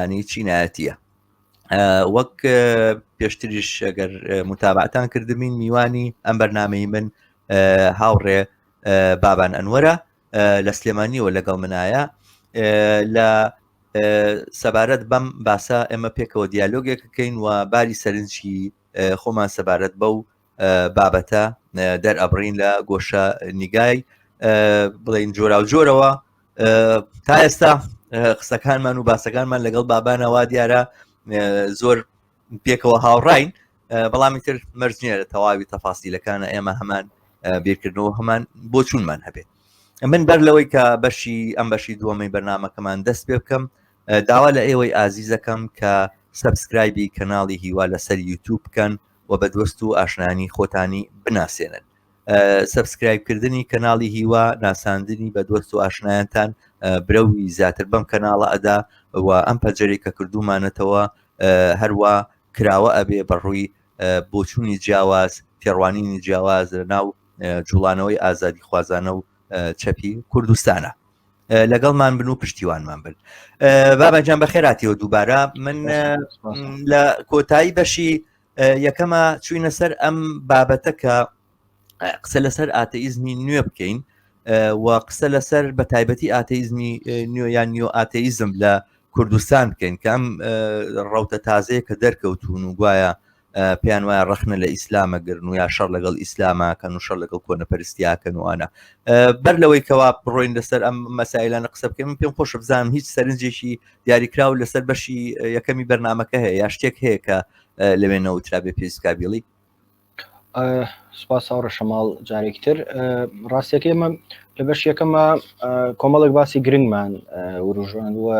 ئەنی چینایەتە وەک پێشتریش ئەگەر متابعتان کردمین میوانی ئەم بەرنمەی من هاوڕێ بابان ئەنوەرە لە سلێمانیەوە لەگەڵ منایە لە سەبارەت بەم باسە ئێمە پێکەوە دیالۆگێک بکەین و باری سەرنجی خۆمان سەبارەت بە و بابەتە دەرئەبڕین لە گۆشە نیگای بڵین جۆرا و جۆرەوە تا ئێستا قسەکانمان و باسەکانمان لەگەڵ بابانەوا دیارە زۆر پێکەوە هاوڕین بەڵامی تر مەرجنیە لە تەواوی تەفاسیلەکانە ئێمە هەمان بیرکردنەوە هەمان بۆ چونمان هەبێت من بەر لەوەی کە بەشی ئەم بەشی دووەمەی بەرنمەکەمان دەست پێ بکەم داوا لە ئێوەی ئازیزەکەم کە سبسکرایبی کەناڵی هیوا لەسەر یوتوب بکەن و بە دۆست و ئاشنانی خۆتانی بناسێنن سبسکرایب کردنی کەناڵی هیوا ناساندنی بە دۆست و ئاشنایانتان برەوی زیاتر بەم کەناڵە ئەدا و ئەم پەجەری کە کردومانەتەوە هەروە کراوە ئەبێ بەڕووی بۆچوونی جیاواز تێڕوانینی جیاواز لە ناو جوڵانەوەی ئازادی خوازانە و چەپی کوردستانە لەگەڵمان بن و پشتیوانمان بن بابەجان بەخێراتیەوە دووبارە من لە کۆتایی بەشی یەکەمە چوینە سەر ئەم بابەتە کە قسە لەسەر ئاتەئیزمی نوێ بکەین و قسە لەسەر بە تایبەتی ئاتەئیزمی نوێیان نیۆ ئاتەئیزم لە کوردستان بکەین کە ئەم ڕوتە تازەیە کە دەرکەوتون و گوایە پێیان وایە ڕخنە لە ئیسلامە گرن و یا شەڕ لەگەڵ ئیسلاماکەن و شەر لەگەڵ کۆنە پرستیاکەن وانە بەر لەوەی کەوا بڕۆین لەسەر ئەم مەسایلانە قسە بکەین من پێم خۆش بزانم هیچ سەرنجێکی دیاریکراو لەسەر بەشی یەکەمی بەرنمەکە هەیە یا شتێک هەیە کە لەوێ نەوترا بێ پێسکابیڵی سپاس ئەوڕە شەماڵ جارێکی تر ڕاستەکە ئمە لە بەش یەکەمە کۆمەڵێک باسی گرنگمان وروژاندووە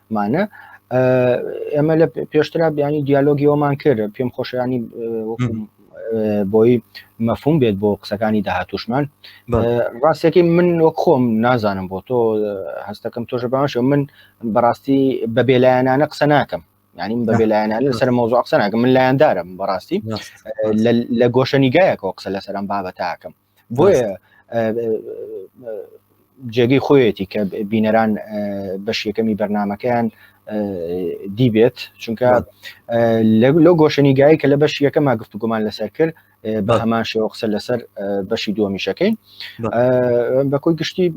مانە ئێمە لە پێشترا بیانی دیالۆگی ئەومان کرد پێم خۆشیانی بۆی مەفهوم بێت بۆ قسەکانی داهاتوشمان ڕاستەکەی من وەک خۆم نازانم بۆ تۆ هەستەکەم تۆش باشە من بەڕاستی بە بێلایەنانە قسە ناکەم ینی من بە بێلایەنان لەسەر مۆزۆ قسە ناکەم من لایەندارم بەڕاستی لە گۆشەنیگایەکەوە قسە لەسەرم بابەتاکەم بۆیە جێگەی خۆیەتی کە بینەران بەش یەکەمی بەرنمەکەیان دیبێت چونکە لەو گۆشەنیگایی کە لە بەش یەکەما گفتوگومان لەسەر کرد بە هەمان شێوە قسە لەسەر بەشی دووەمیشەکەین بە کۆی گشتی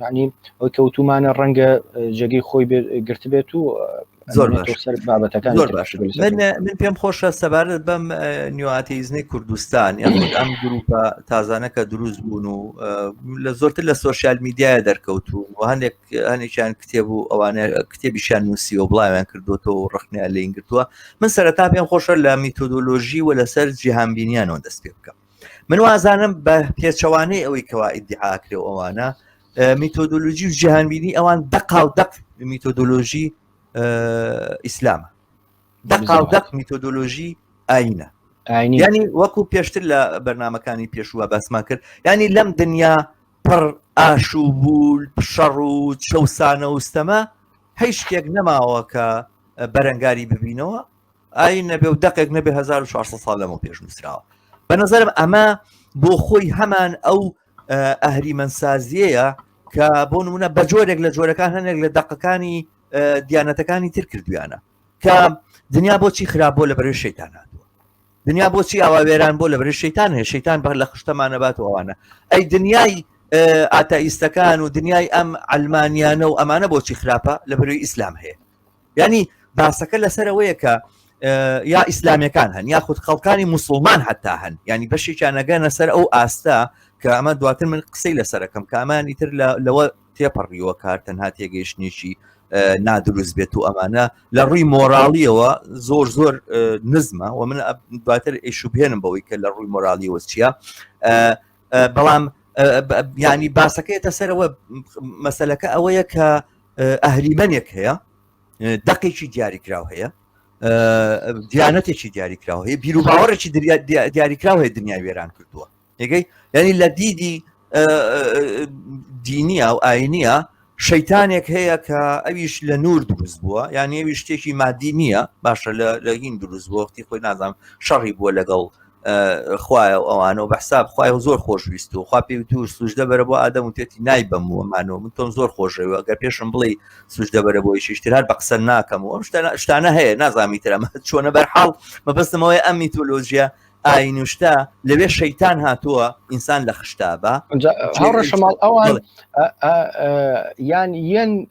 یعنی ئەوەی کەوتومانە ڕەنگە جێگەی خۆی گرتبێت و زۆر سەر بابەتەکان زۆر باش من پێم خۆشە سەبارەت بەم نیواتیزنی کوردستان یان ئەم گروپە تازانەکە دروست بوون و لە زۆرتر لە سوۆسیال میدیایە دەرکەوتون و هەندێک هەنێکیان کتێب و ئەوانە کتێبیشان نووسی و بڵاویان کردوەوە و ڕخنیا لێین گرتووە من سەرتا پێم خۆشە لە میتۆدۆلۆژی و لەسەر جیهانبینیانەوە دەست پێ بکەم من وازانم بە پێچەوانەی ئەوەی کەوا ئیدعاکرێ ئەوانە میتۆدۆلۆژی و جیهانبینی ئەوان دەقا و دەق میتۆدۆلۆژی ئیسلامە دەقا و دەق میتۆدۆلۆژی ئاینە ینی وەکو پێشتر لە بەرنمەکانی پێشووە باسمان کرد ینی لەم دنیا پڕ ئاشوو بول شەڕ و چەسانە وستەمە هەی شتێک نەماوە کە بەرەنگاری ببینەوە ئاین نەبێ و دەقێک نەبێ 1400 ساڵ لەمە پێش نووسراوە بە نظرم ئەمە بۆ خۆی هەمان ئەو ئەهریمەنسازیەیە کە بۆ نمونە بە جۆرێک لە جۆرەکان هەنێک لە دەقەکانی دیانەتەکانی تر کردویانە کە دنیا بۆچی خراپ بۆ لە بەرێ شەیتانات دنیا بۆچی ئاوا وێران بۆ لە بەرێ شەیتان هەیە شەیتان بەر لە خشتەمانەبات و ئەوانە ئەی دنیای ئاتائیستەکان و دنیای ئەم ئەلمانیانە و ئەمانە بۆچی خراپە لە بەروی ئیسلام هەیە یعنی باسەکە لەسەر ئەوەیە کە یا ئیسلامیەکان هەن یا خود خەڵکانی مسلمان حتا هەن ینی بەشێکیان نەگەنە سەر ئەو ئاستە کە ئەمە دواتر من قسەی لەسەرەکەم کامانی تر لەوە تێپەڕیوە کار تەنها تێگەیشتنیشی نادروست بێت و ئەمانە لە ڕووی مۆراڵیەوە زۆر زۆر نزمە و من دواتر ئیشوبێنم بەوەی کە لە ڕووی مۆرالیەوە چییە بەڵام یانی باسەکەێتە سەرەوە مەسلەکە ئەوەیە کە ئەهریمەنێک هەیە دەقێکی دیاریکراو هەیە دیانەتێکی دیاریکراو هەیە بیر و باوەڕێکی دیاریکراو هەیە دنیا وێران کردووە یگەی یعنی لە دیدی دینیە و ئاینیە شەیتانێک هەیە کە ئەویش لە نور دروست بووە یان ئەوی شتێکی مادی نییە باشە لە هین دروست بۆختی خۆی نازانام شەڕی بووە لەگەڵ خوایە و ئەوانە و بەحساب خخوای و زۆر خۆشویست و خوا پێ توور سوژدە بەرە بۆ ئادەم وتێتی نای بەم و مانەوە من تۆم زۆر خۆشەوە گەر پێشم بڵێ سوژدە بەرە بۆی شیشتر هەر بە قسە ناکەم و ئەم شتانە هەیە نازامی ترەمە چۆنە بەرحاڵ مەبستمەوەی ئەم میتۆلۆژیە ئاینوشتا لەوێ شەیتان هاتووە ئینسان لە خشتابە هاوڕەشەماڵ ئەوان یان یەن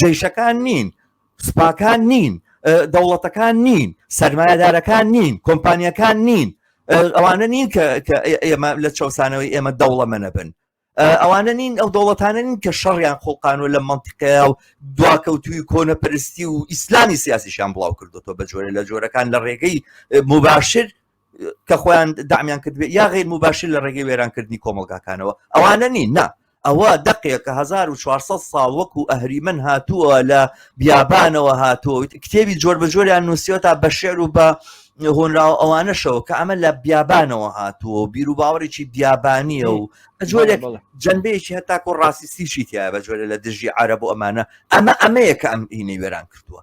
جەیشەکان نین سوپاکان نین دەوڵەتەکان نین سەرمایەدارەکان نین کۆمپانیەکان نین ئەوانە نین کە ئێمە لە چەسانەوەی ئێمە دەوڵەمەنە بن ئەوانە نین ئەو دەوڵەتانە نین کە شەڕیان خۆقانوە لە منتیقەیە و دواکەوتوی کۆنە پرستی و ئیسلامی سیاسیشان بڵاو کردوەوە بە جۆرە لە جۆرەکان لە ڕێگەی مباشر کە خۆیان دامیان کردێت یا غیر مباشر لە ڕێگەی وێرانکردنی کۆمەلگاکانەوە ئەوانە نین نا ئەوە دەقێک کە 1400 ساڵ وەکو ئەهریمن هاتووە لە بیابانەوە هاتووە کتێبی جۆر بە جۆریان نووسیەوە تا بە شعر و بە هۆنراوە ئەوانەشەوە کە ئەمە لە بیابانەوە هاتووە و بیر و باوەڕێکی بیابانیە و جۆرێک جنبەیەکی هەتاکۆ ڕاستیسیشی تیا بە جۆرە لە دژی عرب و ئەمانە ئەمە ئەمەیە کە ئەم هینەی وێران کردووە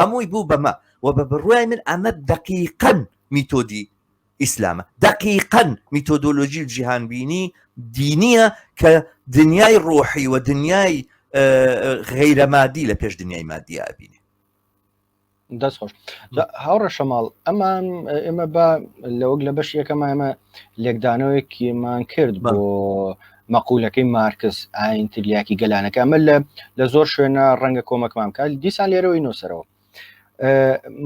هەمووی بوو بەمە وە بە بڕوای من ئەمە دەقیقەن میتۆدی ئیسلامە دەقیقەن میتۆدۆلۆژی جیهان بینی دینیە کە دنیای ڕۆحی و دنیای غیرە مادی لە پێش دنیای مادی ئابینێ دەست خۆش هاوڕە شەماڵ ئەمان ئێمە بە لەوەک لە بەش یەکەمە ئەمە لێکدانەوەیەکیمان کرد بۆ مەقولەکەی مارکس، ئاین تریاکی گەلانەکە، ئەمە لە لە زۆر شوێنە ڕەنگە کۆمەکمان بکات، دیسان لێرەوەی نووسەرەوە.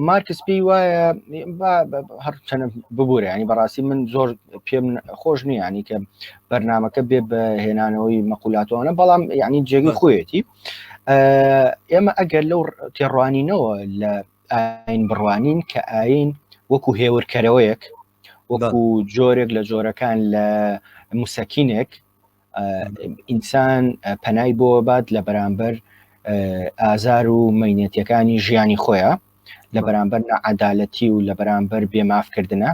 مارکس پێی وایە هەر چەنە ببوورە ینی بەڕاستی من زۆر پێم خۆش نییانی کە بەرنمەکە بێ بە هێنانەوەی مەقولاتوانە بەڵام یعنی جێگی خۆیەتی ئێمە ئەگەر لەو تێڕوانینەوە لە ئاین بڕوانین کە ئاین وەکو هێورکەرەوەیەک وەکو جۆرێک لە جۆرەکان لە موسەکینێک ئینسان پەنای بۆ بات لە بەرامبەر ئازار و مینەتەکانی ژیانی خۆیە لە بەرامبەر نەعادالەتی و لە بەرامبەر بێمافکردە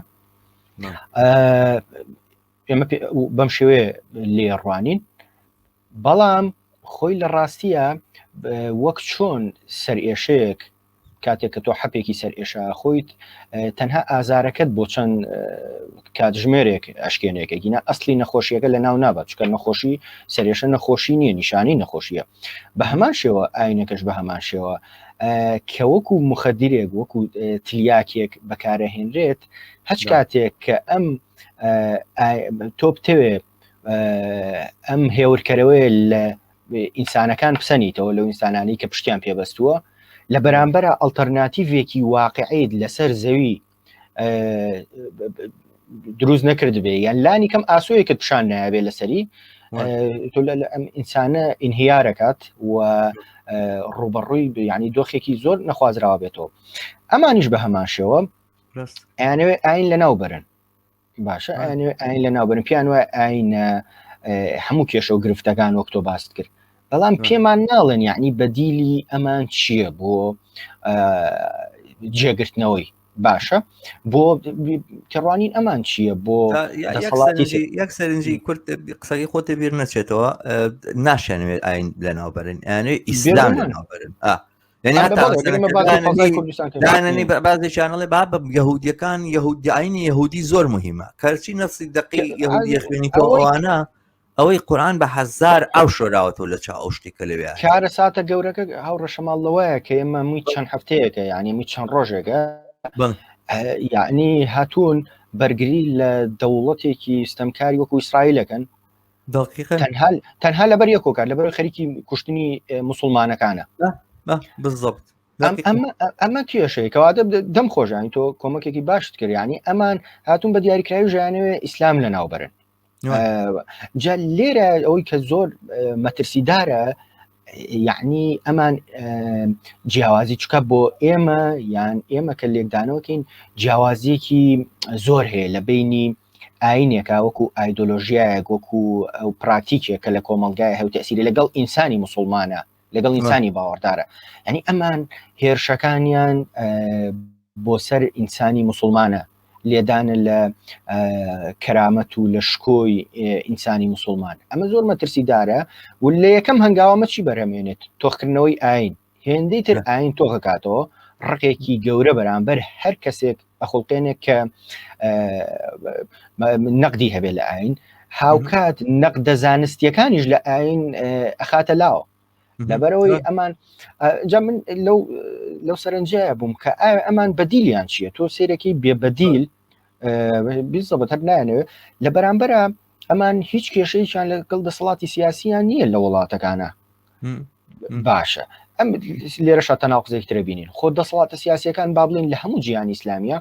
ئێمە بەم شێوێ لێڕوانین بەڵام خۆی لە ڕاستیە وەک چۆن سەرئێشەیەک کاتێک کە تۆ حەپێکی سەر ئێشا خۆیت تەنها ئازارەکەت بۆ چەند کاتژمێرێک ئەشکێنێکە گینا ئەسلی نەخۆشیەکە لە ناو نابات چکە نەخۆشی سەرێشە نەخۆشی نییە نیشانی نەخۆشیە بە هەمان شێوە ئاینەکەش بە هەمان شێوە کە وەکو مخەدیرێک وەکو تلیاکێک بەکارەهێنرێت هەچ کاتێک کە ئەم تۆ بتەوێ ئەم هێورکەرەوەی لە ئینسانەکان پسەنیتەوە لەو ئینسانانی کە پشتیان پێبەستووە لە بەرامبەر ئەلتەرناتیڤێکی واقعیت لەسەر زەوی دروست نەکردبێ یان لانی کەم ئاسۆیەکت پیشان نابێ لەسەری تۆ لە ئەم ئینسانە ئینهیارەکات و ڕوبەڕووی ینی دۆخێکی زۆر نەخوازراوە بێتەوە ئەمانیش بە هەمان شێوە ئەیانەوێ ئاین لە ناو بەرن باشە ئاین لە ناوبن پیان وای ئاینە هەموو کێشە و گرفتەکان وەک تۆ باست کرد بەڵام پێمان ناڵێن یعنی بەدیلی ئەمان چییە بۆ جێگرتنەوەی باشە بۆ تێڕوانین ئەمان چییە بۆ یەک سەرنجی کورت قسەی خۆتێ بیر نەچێتەوە ناشێنوێت ئاین لەناوبەرن یانێ ئیسلام لەناوبەرن دانانی بازی چانەڵێ با بە یهودیەکان یهودیعینی یهودی زۆر مهمە کەچی نەسی دقی یهودی خوێنی تۆوانە ئەوەی قورآان بە هزار ئەو شۆراوەەوە لە چا ئەو شتی کە لەوێ کارە ساتە گەورەکە هاو ڕەشەماڵ لەوەیە کە ئێمە مووی چەند هەفتەیەەکە یعنی مووی چەند ڕۆژێکە یعنی هاتوون بەرگری لە دەوڵەتێکی ستەمکاری وەکو ئیسرائیلەکەن تەنها لەبەر یە کۆکار لەبەر خەریکی کوشتنی مسلمانەکانە بزەبت ئەمە کێشەیە کەواتە دەم خۆشانی تۆ کۆمەکێکی باشت کردیانی ئەمان هاتون بە دیاریکراوی ژیانەوە ئیسلام لە ناوبرن جا لێرە ئەوەی کە زۆر مەترسیدارە یعنی ئەمان جیاوازی چکە بۆ ئێمە یان ئێمە کە لێکدانەوەکەین جیاوازیەکی زۆر هەیە لە بینی ئاینێکە وەکو ئایدۆلۆژیایەک وەکو ئەو پراتیکێک کە لە کۆمەلگای هەو تەسیری لەگەڵ ئینسانی مسلمانە لەگەڵ ئینسانی باوەڕدارە ئەنی ئەمان هێرشەکانیان بۆ سەر ئینسانی مسلمانە لێدانە لە کەرامەت و لە شکۆی ئینسانی مسلمان ئەمە زۆر مەترسیدارە و لە یەکەم هەنگاوە مەچی بەرەمێنێت تۆخکردنەوەی ئاین هێندەی تر ئاین تۆکەکاتەوە ڕقێکی گەورە بەرامبەر هەر کەسێک ئەخڵقێنێک کە نەقدی هەبێت لە ئاین هاوکات نەقدە زانستیەکانیش لە ئاین ئەخاتە لاوە لەبەرەوەی ئەمان جا من لەو لەو سەرنجەیە بووم کە ئایا ئەمان بەدیلیان چییە تۆ سێرەکەی بێبەدیل بیزەبەت هەر نایەنەوێت لە بەرامبەرە ئەمان هیچ کێشەیەکیان لەگەڵ دەسەڵاتی سیاسیان نییە لە وڵاتەکانە باشە ئەم لێرە شە تەناقزێک ترە بینین خۆ دەسەڵاتە سیاسەکان با بڵین لە هەموو جیان ئیسلامیە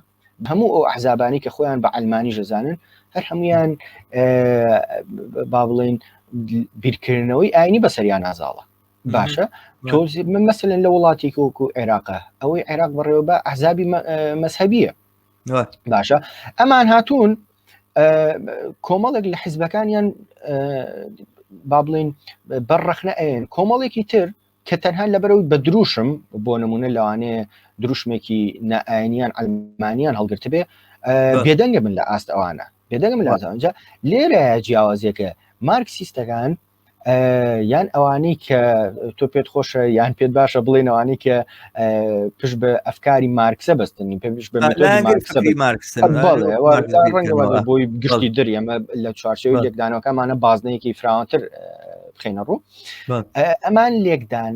هەموو ئەو ئەحزابانی کە خۆیان بە ئەلمانی ژەزانن هەر هەمویان با بڵین بیرکردنەوەی ئاینی بەسەریان نازاڵە باشە تۆزی من مەسلن لە وڵاتێکی وەکو عێراقە ئەوەی عێراق بەڕێوە بە ئەحزابی مەسهبیە باشە ئەمان هاتوون کۆمەڵێک لە حیزبەکانیان با بڵین بەر ڕخنە ئەێن کۆمەڵێکی تر کە تەنها لە بەرەوەی بە دروشم بۆ نمونە لەوانەیە دروشمێکی نائاینیان ئەلمانیان هەڵگرت بێ بێدەنگە من لە ئاست ئەوانە بێدەنگم لازانجا لێرە جیاوازیەکە مارکسیستەکان یان ئەوانەی کە تۆ پێت خۆشە یان پێت باشە بڵێنەوانی کە پشت بە ئەفکاری مارکسە بەستنی پێ بۆی گشتی در ئەمە لە چوارچەوەی لێکدانەوەکەمانە بازنەیەکی فراوانتر بخینە ڕوو ئەمان لێکدان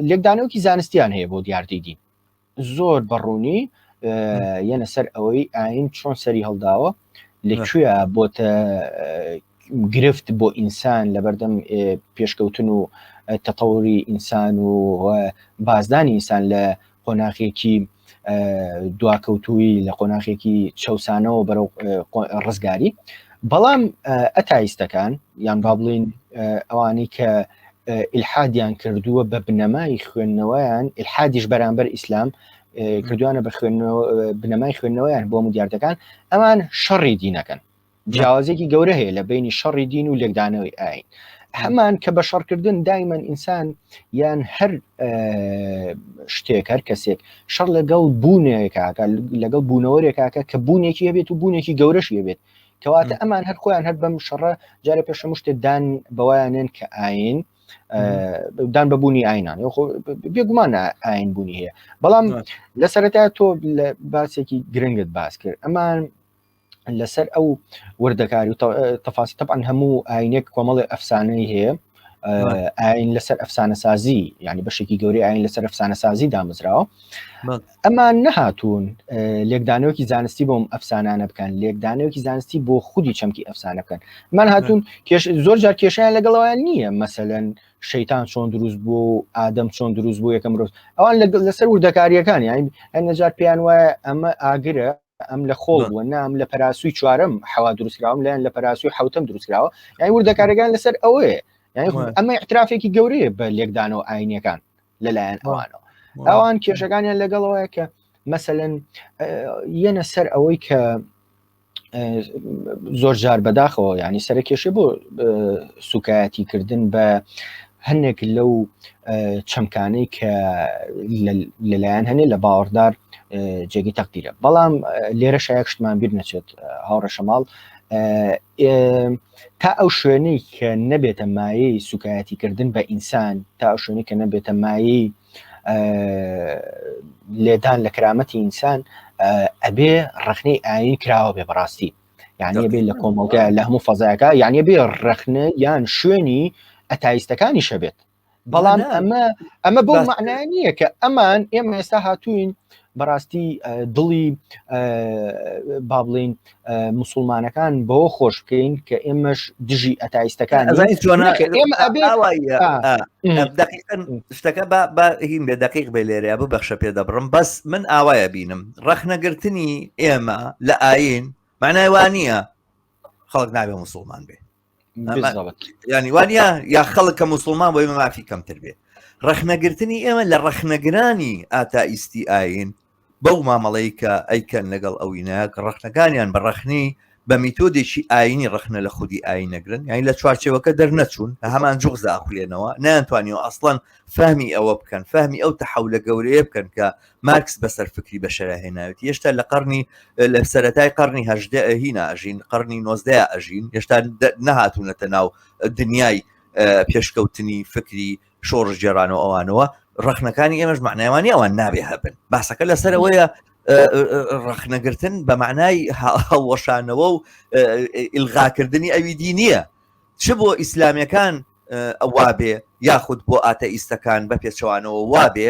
لێکدانەوەکی زانستیان هەیە بۆ دیاردیدی زۆر بەڕوونی یەنە سەر ئەوەی ئاین چۆن سەری هەڵداوە لەکوێ بۆتە گرفت بۆ ئینسان لە بەردەم پێشکەوتن و تەتەوری ئینسان و بازدانی ئینسان لە قۆناخێکی دواکەوتووی لە قۆناخێکی چەسانەوە بەرەو ڕزگاری بەڵام ئەتایستەکان یان با بڵین ئەوانی کە ئیلحادیان کردووە بە بنەمای خوێندنەوەیان ئیلحادیش بەرامبەر ئیسلام کردوانە بە خوێندنەوە بنەمای خوێندنەوەیان بۆ مدیارەکان ئەمان شەڕی دینەکەن جیاوازێکی گەورە هەیە لە بینی شەڕی دین و لێکدانەوەی ئاین هەمان کە بە شەڕکردن دایمەن ئینسان یان هەر شتێک هەر کەسێک شەڕ لەگەڵ بوونێکاکە لەگەڵ بوونەوەرێکاکە کە بوونێکی هەبێت و بوونێکی گەورەش هەبێت کەواتە ئەمان هەر خۆیان هەر بەم شەڕە جارە پێش هەموو شتێک دان بەوایانێن کە ئاین دان بەبوونی ئاینان بێگومان ئاین بوونی هەیە بەڵام لە سەرەتا تۆ لە باسێکی گرنگت باس کرد ئەمان لەسەر ئەو وردەکاری و تەفاسی تەبان هەموو ئاینێک کۆمەڵی ئەفسانەی هەیە ئاین لەسەر ئەفسانە سازی ینی بەشێکی گەوری ئاین لەسەر ئەفسانە سازی دامزراوە ئەمان نەهاتوون لێکدانەوەکی زانستی بۆم ئەفسانانە بکەن لێکدانەوەکی زانستی بۆ خودی چەمکی ئەفسانە بکەن من هاتوون زۆر جار کێشیان لەگەڵەوەیان نییە مەسەەن شەیتان چۆن دروست بوو و ئادەم چۆن دروست بوو یەکەم ڕۆژ ئەوان لەسەر وردەکاریەکان یان هەنەجار پێیان وایە ئەمە ئاگرە ئەم لە خۆڵ بووە نام لە پەراسووی چوارم حوا دروستراوم لایەن لە پەراسووی حوتم دروستراوە یای وردەکارەکان لەسەر ئەوەیە یعنی ئەمە اعترافێکی گەورەیە بە لێکدانەوە ئاینەکان لەلایەن ئەوانەوە ئەوان کێشەکانیان لەگەڵەوەیە کە مەسەن یەنە سەر ئەوەی کە زۆر جار بەداخەوە ینی سەرکێشێ بۆ سوکایەتی کردن بە هەنێک لەو چەمکانەی کە لەلایەن هەنێ لە باوەڕدار جێگی تەقدیرە بەڵام لێرە شایەک شتمان بیر نەچێت هاوڕە شەماڵ تا ئەو شوێنەی کە نەبێتە مایەی سوکایەتی کردن بە ئینسان تا ئەو شوێنی کە نەبێتە مایەی لێدان لە کرامەتی ئینسان ئەبێ ڕخنەی ئاین کراوە بێ بەڕاستی یعنی بێ لە کۆمەڵگە لە هەموو فەزایەکە یعنی بێ ڕەخنە یان شوێنی ئەتایستەکانی شەبێت بەڵام ئەمە ئەمە بۆ معنای نییە کە ئەمان ئێمە ئێستا هاتوین بەڕاستی دڵی با بڵین مسلمانەکان بۆ خۆش بکەین کە ئێمەش دژی ئەتایستەکان شتەکە بە هیم بێ دقیق بێ لێرەیە ببەخشە پێ دەبڕم بەس من ئاوایە بینم ڕەخنەگرتنی ئێمە لە ئاین معنای وانە خەڵک نابێ مسلمان بێ ینی وانە یا خەڵک کە مسلمان بۆی مافی کەمتر بێ ڕەخنەگرتنی ئێمە لە ڕەخنەگرانی ئاتائیستی ئاین بەو مامەڵەی کە ئەیکەن لەگەڵ ئەوینەک ڕەخنەکانیان بە ڕەخنی بە میتۆدێکی ئاینی ڕخنە لە خودی ئاین نەگرن یانی لە چوارچەوەکە دەرنەچوون لە هەمان جوغز ئاخولێنەوە نیانتوانیەوە ئەسڵەن فەهمی ئەوە بکەن فەهمی ئەو تەحولە گەورەیە بکەن کە مارکس بەسەر فکری بەشەرا هێناوێت هێشتا لە قەرنی لە سەتای قەرنی هەژدە هینا ئەژین قەرنی نۆزدە ئەژین هێشتا نەهاتوونەتە ناو دنیای پێشکەوتنی فکری شۆڕشگێران و ئەوانەوە ڕخنەکانی ئێمەش معنایوانی ئەوان نابێ هەبن باسەکە لەسەرەوەیە ڕخنەگرتن بە معنای هەڵوەشانەوە و ئیلغاکردنی ئەوی دی نییە چ بۆ ئیسلامیەکان ئەوا بێ یاخود بۆ ئاتە ئیستەکان بە پێچەوانەوە وا بێ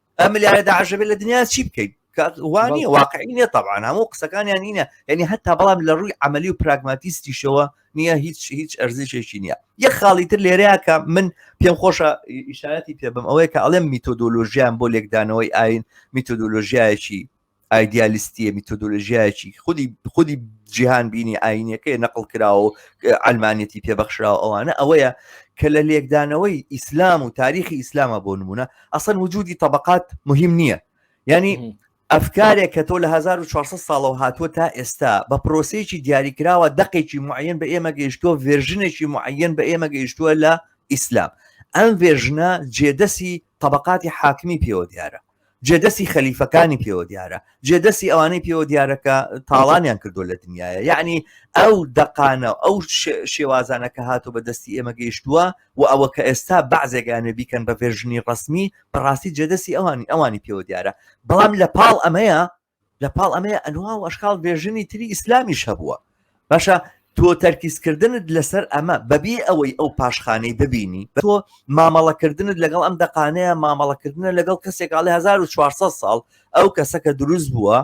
ئەم لایە داعشەبێت لە دنیا چی بکەیت وانە واقعی نیە طبعاان هەموو قسەکانیان نینە یعنی هەتا بەڵام لە ڕووی عملی و پراگماتیستیشەوە نییە هیچ هیچ ئەرزشێکی نییە یە خاڵی تر لێرەیەکە من پێم خۆشە ئیشارەتی پێ بم ئەوەیە کە ئەڵێم میتۆدۆلۆژیان بۆ لێکدانەوەی ئاین میتۆدۆلۆژیایەکی ئایدیالیستیە میتۆدۆلژیایەکی خودی خودی جیهان بینی ئاینەکەی نەقل کراوە و ئەلمانەتی پێبەخشراوە ئەوانە ئەوەیە کە لە لێکدانەوەی ئیسلام و تاریخی ئیسلامە بۆ نمونە ئەسەن وجودی طبقات مهم نییە ینی ئەفکارێک کە تۆ لە 1400 ساڵەوە هاتووە تا ئێستا بە پرۆسەیەکی دیاریکراوە دقێکی معەن بە ئێمە گەیشتووە ڤێژنێکی معەن بە ئێمە گەیشتووە لە ئیسلام ئەم ڤێژنە جێدەسی طبقاتی حاکمی پێوە دیارە جێ دەستی خەلیفەکانی پێوە دیارە جێ دەستی ئەوانەی پێوە دیارەکە تاڵانیان کردو لە دنیاە یعنی ئەو دەقانە ئەو شێوازانە کە هاتو بە دەستی ئێمە گەیشتووە و ئەوە کە ئێستا بەعزێگانێ بیکەن بە ڤێژنی ڕسمی بەڕاستی جێدەستی ئەوانی ئەوانی پێوە دیارە بەڵام لە پاڵ ئەمەیە لە پاڵ ئەمەیە ئەنوا و ئەشکال بێژنی تری ئیسلامیش هەبووە باشە تۆ تەرکیزکردنت لەسەر ئەمە بەبی ئەوەی ئەو پاشخانەی ببینی تۆ مامەڵەکردنت لەگەڵ ئەم دەقانەیە مامەڵەکردنە لەگەڵ کەسێکاڵی 1400 ساڵ ئەو کەسەکە دروست بووە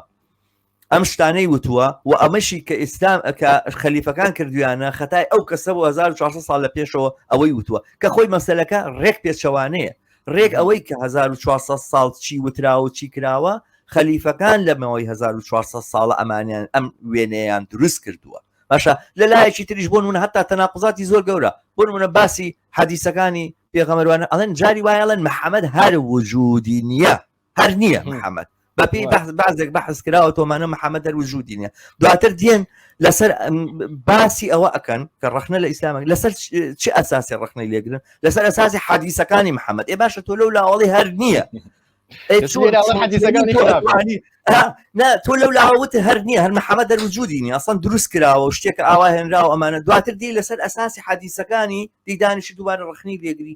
ئەم شتانەی وتووە و ئەمەشی کە ئیسلام کە خەلیفەکان کردویانە خەتای ئەو کەسە بۆ 1400 ساڵ لە پێشەوە ئەوەی وتووە کە خۆی مەسلەکە ڕێک پێچەوانەیە ڕێک ئەوەی کە 1400 ساڵ چی وتراوە چی کراوە خەلیفەکان لەمەوەی 1400 ساڵە ئەمانیان ئەم وێنەیان دروست کردووە باشە لە لایەکی تریش بۆن منە هەتا تەناقزاتی زۆر گەورە بۆن منە باسی حەدیسەکانی پێغەمەروانە ئەڵێن جاری وایەڵەن محەممەد هەر وجودی نییە هەر نییە محەممەد بەپی بەحز بازێک بەحز کراوە تۆمانە محەممەد دەر وجودی نیە دواتر دێن لەسەر باسی ئەوە ئەکەن کە ڕخنە لە ئیسلامە لەسەر چ ئەساسی ڕخنەی لێگرن لەسەر ئەساسی حادیسەکانی محەممەد ئێ باشە تۆ لەو لاوەڵی هەر نییە نا تۆ لەو لاوەوت هەر نییە هەر محەمە دەروجودی نیە ئەسان دروست کراوە شتێک ئاوا هێنراوە ئەمانە دواتر دی لەسەر ئەساسی حادیسەکانی دیدانیشی دووبارە ڕخنی لێگری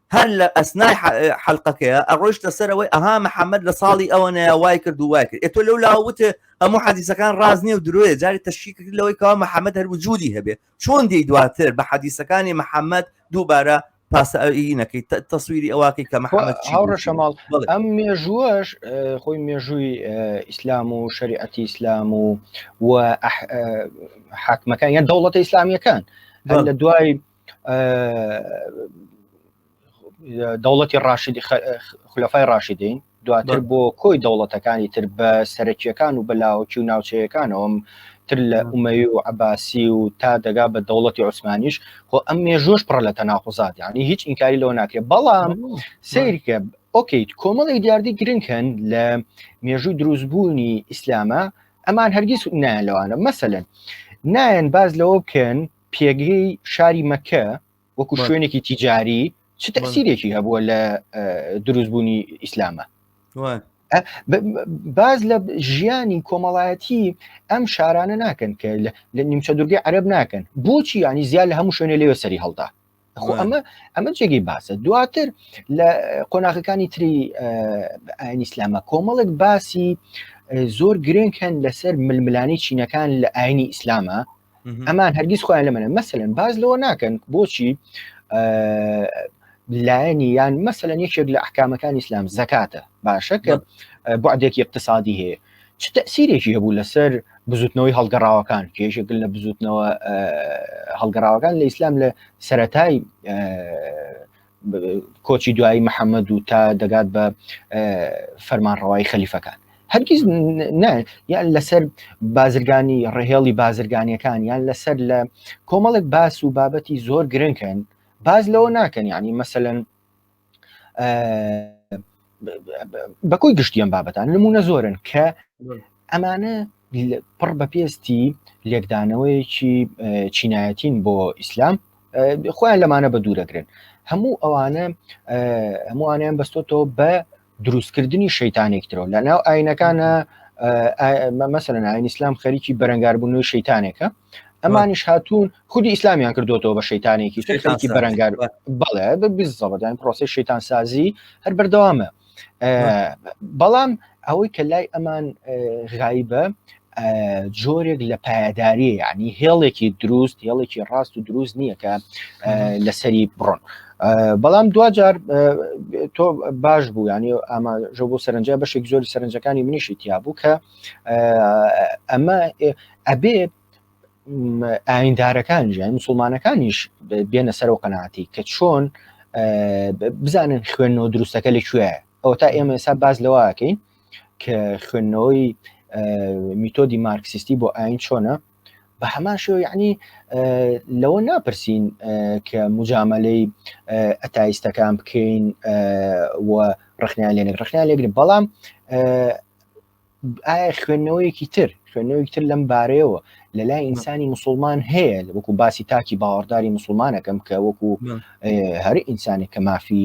هەر لە ئەسنای حلقەکەیە ئەڕۆشتە سەرەوەی ئەها محەممەد لە ساڵی ئەوە نەیە وای کرد و وای کرد تۆ لەو لاوتێ هەموو حەدیسەکان ڕازنی و درۆێ جاری تەشی کرد لەوەی کاوە محەممەد هەر وجودی هەبێ چۆن دی دواتر بە حەدیسەکانی محەممەد دووبارە پاسەئینەکەی تەسویری ئەوواقی کە محەممەد هاوڕەشەماڵ ئەم مێژووەش خۆی مێژووی ئیسلام و شریعەتی ئیسلام و و حاکمەکان یان دەوڵەتە ئیسلامیەکان لە دوای دەوڵەتی ڕاشدی خلفای ڕاشدین دواتر بۆ کۆی دەوڵەتەکانی تر بە سەرەکیەکان و بەلاوەکی و ناوچەیەکانەوەم تر لە ئومەی و عباسی و تا دەگا بە دەوڵەتی عوسمانیش خۆ ئەم مێژۆش پڕە لە تەناقزات یعنی هیچ ئینکاری لەوە ناکرێت بەڵام سیرکە ئۆکییت کۆمەڵی دیاردی گرنگ هەن لە مێژووی دروستبوونی ئیسلامە ئەمان هەرگیز نایان لەوانە مەسەن نایەن باز لەوە بکەن پێگەی شاری مەکە وەکو شوێنێکی تیجاری چ تەسیرێکی هەبووە لە دروستبوونی ئیسلامە باز لە ژیانی کۆمەڵایەتی ئەم شارانە ناکەن کە لە نیمچە دوورگەی عەرب ناکەن بۆچی ینی زیاد لە هەموو شوێنێ لێوە سەری هەڵدا خۆ ئەمە ئەمە جێگەی باسە دواتر لە قۆناغەکانی تری ئاین ئیسلامە کۆمەڵک باسی زۆر گرنگ هەن لەسەر ململانی چینەکان لە ئاینی ئیسلامە ئەمان هەرگیز خۆیان لە منە مەسەن باز لەوە ناکەن بۆچی لایەنی یان مەسەن یەکێک لە ئەحکامەکان ئیسلام زکاتە باشە کە بعدێکی اقتصادی هەیە چ تەسیرێکی هەبوو لەسەر بزوتنەوەی هەڵگەڕاوەکان کێژێکل لە بزوتنەوە هەڵگەڕاوەکان لە ئیسلام لە سەتای کۆچی دوایی محەممەد و تا دەگات بە فەرمانڕەوای خەلیفەکان هەرگیز یان لەسەر بازرگانی ڕهێڵی بازرگانیەکان یان لەسەر لە کۆمەڵێک باس و بابەتی زۆر گرنگکەن باز لەوە ناکەن ینی مەسەن بەکۆی گشتی ئەم بابەتان نمونە زۆرن کە ئەمانە پڕ بە پێستی لێکدانەوەیەکی چینایەتین بۆ ئیسلام خۆیان لەمانە بە دوورەگرن هەموو ئەوانە هەمووانیان بەستۆتەوە بە دروستکردنی شەیتانێکترەوە لە ناو ئاینەکانە مەمەسەرە ناوین ئیسلام خەریکی بەرەنگاربوونەوەی شەیتانێکە ئەمانیش هاتوون خودی ئیسلامیان کردوەوە بە شەیتانێکی خەریکی بەرەنگار بەڵێ بزەڵدان پرۆسی شەیتان سازی هەر بەردەوامە بەڵام ئەوەی کە لای ئەمان غایبە جۆرێک لە پایەداریە یعنی هێڵێکی دروست هێڵێکی ڕاست و دروست نییە کە لەسەری بڕۆن بەڵام دوجار تۆ باش بوو ینی ئەمە ژۆ بۆ سەرنجە بەشێک زۆری سەرنجەکانی منیشی تیا بوو کە ئەمە ئەبێ ئایندارەکان ژیان مسلمانەکانیش بێنە سەر و قەنەعاتی کە چۆن بزانن خوێنەوە دروستەکە لە کوێ ئەو تا ئێمە ئێستا باز لەواکەین کە خوێندنەوەی میتۆدی مارکسیستی بۆ ئاین چۆنە بە هەمان شێوە یعنی لەوە ناپرسین کە مجاملەی ئەتایستەکان بکەین و ڕخنیان لێنێک ڕخنیان لێگرن بەڵام ئایا خوێندنەوەیەکی تر خوێندنەوەی تر لەم بارەیەوە لە لای ئینسانی مسلمان هەیە وەکو باسی تاکی باوەڕداری مسلمانەکەم کە وەکو هەر ئینسانێک کە مافی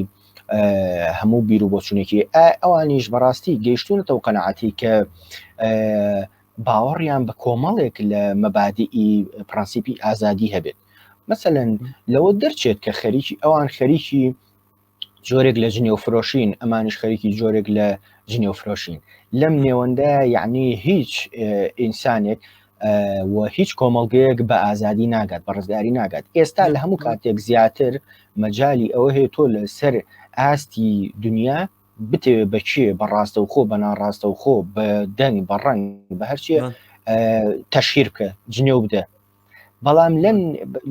هەموو بیر و بۆچونێکی ئەوانیش بەڕاستی گەیشتونەتەوە قەنەعاتی کە باوەڕیان بە کۆمەڵێک لە مەبادی پرەنسیپی ئازادی هەبێت مەسەەن لەوە دەرچێت کە خەریکی ئەوان خەریکی جۆرێک لە جنێو فرۆشین ئەمانش خەریکی جۆرێک لە جنێو فرۆشین لەم نێوەندە یعنی هیچ ئینسانێک و هیچ کۆمەڵگەیەک بە ئازادی ناگات بە ڕزگاری ناگات ئێستا لە هەموو کاتێک زیاتر مەجای ئەوە هەیە تۆ لەسەر ئاستی دنیا بتەوێت بەچێ بە ڕاستەوخۆ بە ناڕاستەوخۆ بە دەنگ بە ڕەنگ بە هەرچیە تەشیر بکە جنێو بدە بەڵام لەم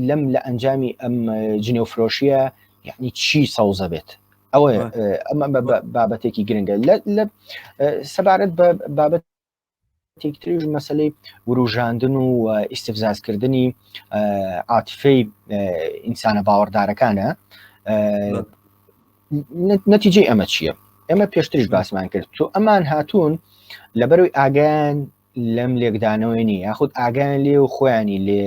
لەم لە ئەنجامی ئەم جنێو فرۆشیە یعنی چی سەوزە بێت ئەوە ئەمە بابەتێکی گرنگە لە سەبارەت بە بابەت یەکێکی تریش مەسلەی وروژاندن و ئیسفزازکردنی عاتفەی ئینسانە باوەڕدارەکانە نەتیجەی ئەمە چییە؟ ئێمە پێشتریش باسمان کرد تۆ ئەمان هاتوون لەبەروی ئاگیان لەم لێکدانەوەی نی یاخود ئاگیان لێ و خۆیانی لێ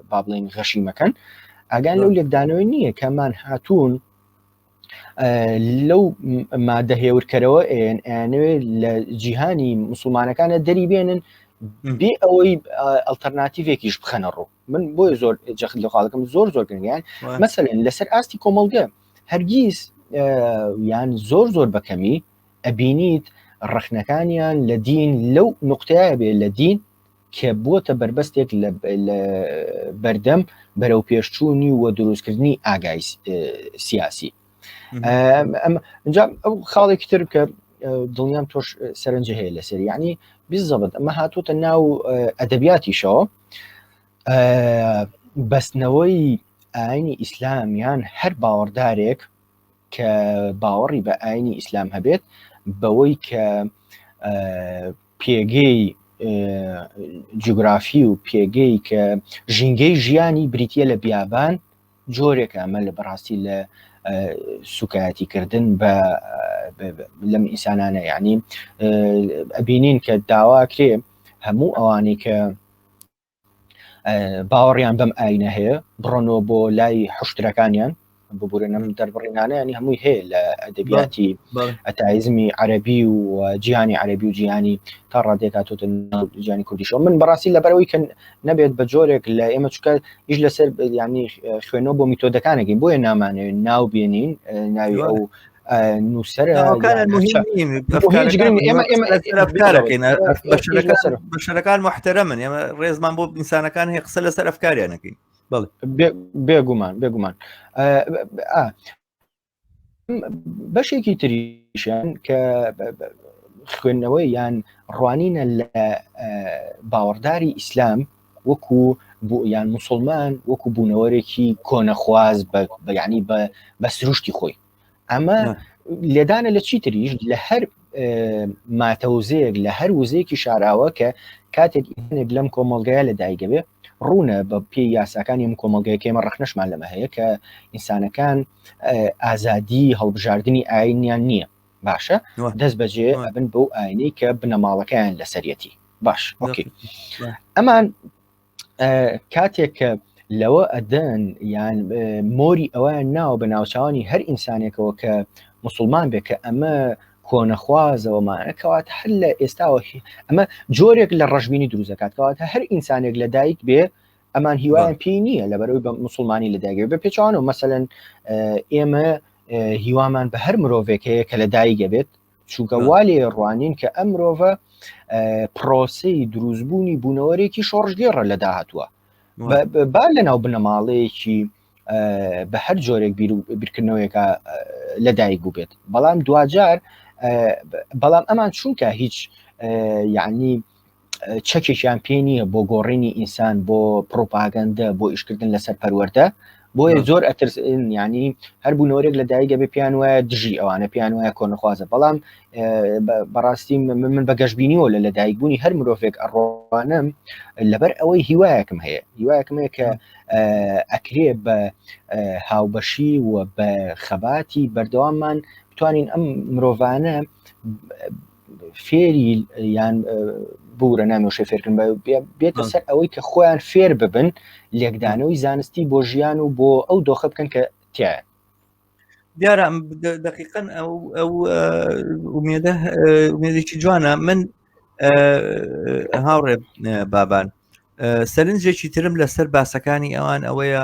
با بڵین غەشی مەکەن ئاگان لەو لێکدانەوەی نییە کەمان هاتوون لەو مادە هێورکەرەوە ئەیانەوێت لە جیهانی مسلمانەکانە دەری بێنن بێ ئەوەی ئەلتەرناتیڤێکیش بخەنە ڕوو من بۆی زۆر جەخت لە خاڵەکەم زۆر زۆر گرنگیان مەسەن لەسەر ئاستی کۆمەڵگە هەرگیز یان زۆر زۆر بەکەمی ئەبینیت ڕخنەکانیان لە دین لەو نقطەیە بێ لە دین کە بووەتە بەربەستێک لە بەردەم بەرەوپێشچوونی و دروستکردنی ئاگای سیاسی ئەو خاڵێکی تر کە دڵنیام تۆش سەرنج هەیە لەسەر ینی بزەبت ئەمە هاتوتە ناو ئەدەبیاتیشەوە بەستنەوەی ئاینی ئیسلامیان هەر باوەڕدارێک کە باوەڕی بە ئاینی ئیسلام هەبێت بەوەی کە پێگەی جوگرافی و پێگەی کە ژینگەی ژیانی بریتە لە بیابان جۆرێک ئەمە لە بەڕاستی لە سوکایەتیکردن بە لەم ئینسانانە یعنی ئەبینین کە داواکرێ هەموو ئەوانەی کە باوەڕیان بەم ئاینە هەیە بڕۆنەوە بۆ لای حشترەکانیان ببورێنم دەربڕینانەیانی هەمووی هەیە لە ئەدەبیاتی ئەتایزمی عەربی و جیهانی عەربی و جیهانی تا ڕادێک هاتوتە جیانی کوردیشەوە من بەڕاستی لەبەرەوەی کە نەبێت بە جۆرێک لە ئێمە چکە هیچ لەسەر ینی خوێنەوە بۆ میتۆدەکانەکەین بۆیە نامانەوێت ناو بێنین ناوی ئەو نووسەر بەشەکان محتەرە من ئێمە ڕێزمان بۆ ئینسانەکان هەیە قسە لەسەر ئەفکاریان نەکەین بێگومان بێگومان بەشێکی تریشیان کە خوێندنەوەی یان ڕوانینە لە باوەڕداری ئیسلام وەکو یان مسلمان وەکو بوونەوەرێکی کۆنەخواز بەیانی بە بە سروشتی خۆی ئەمە لێدانە لە چی تریش لە هەر ماتەوزەیەک لە هەر وزەیەکی شاراوە کە کاتێک ئینێک لەم کۆمەلگایە لە دایگەوێ ڕوونە بە پێی یاساکانی ئەم کۆمەلگەکەمە ڕخنەشمان لەمە هەیە کە ئینسانەکان ئازادی هەڵبژاردننی ئاینیان نییە باشە دەست بەجێ ئەبن بەو ئاینەی کە بنەماڵەکەیان لەسەرەتی باش ئۆکی ئەمان کاتێک کە لەوە ئەدەن یان مۆری ئەویان ناوە بە ناوچوانی هەر ئینسانێکەوە کە مسلمان بێ کە ئەمە کۆنەخوازەوەمانە کەوات هەر لە ئێستاوە ئەمە جۆرێک لە ڕژبینی دروزەکات کەواتە هەر ئینسانێک لە دایک بێ ئەمان هیوایان پێی نییە لە بەرەوەی بە مسلمانی لە داگەێ بە پێچوانە و مەمثلەن ئێمە هیوامان بە هەر مرۆڤێک هەیە کە لە دایگە بێت چونکە والێ ڕوانین کە ئەم مرۆڤە پرۆسی دروستبوونی بوونەوەرێکی شۆڕژگێڕە لە داهتووە با لە ناو بنەماڵەیەکی بە هەر جۆرێک بیرکردنەوەیەکە لە دایک بوو بێت بەڵام دواجار بەڵام ئەمان چونکە هیچ یعنی چەکێکیان پێ نییە بۆ گۆڕینی ئینسان بۆ پرۆپاگەندە بۆ ئیشکردن لەسەر پەروەەردە بۆیە زۆر ئەترس ینی هەر بوو نۆرێک لە دایگە بێ پێیان وایە دژی ئەوانە پێیان وایە کۆنخوازە بەڵام بەڕاستی من بە گەشتبینیەوە لە لەدایکبوونی هەر مرۆڤێک ئەڕوانم لەبەر ئەوەی هیوایەکم هەیە هیوایەکم هەیە کە ئەکرێ بە هاوبەشی و بە خەباتی بەردەواممان بتوانین ئەم مرۆڤانە فێری یان بورە نامۆشە فێرکن بێتە سەر ئەوەی کە خۆیان فێر ببن لێکدانەوەی زانستی بۆ ژیان و بۆ ئەو دۆخە بکەن کە تیان دیارە دقیقا ئەو ئەو ئومێدە ئومێدێکی جوانە من هاوڕێ بابان سەرنجێکی ترم لەسەر باسەکانی ئەوان ئەوەیە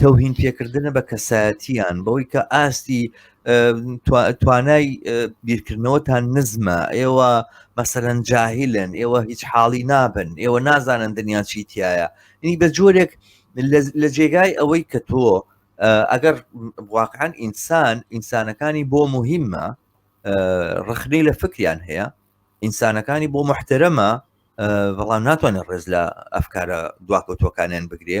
تەوهین پێکردنە بە کەسایەتیان بەوەی کە ئاستی توانای بیرکردنەوەتان نزمە ئێوە مەسەرەن جاهیلن ئێوە هیچ حاڵی نابن ئێوە نازانن دنیا چیتیایە ینی بە جۆرێک لە جێگای ئەوەی کە تۆ ئەگەر واقعان ئینسان ئینسانەکانی بۆ مهمە ڕخنەی لە فکریان هەیە ئینسانەکانی بۆ محتەرەمە بەڵام ناتوانێت ڕێز لە ئەفکارە دواکەوتوەکانیان بگرێ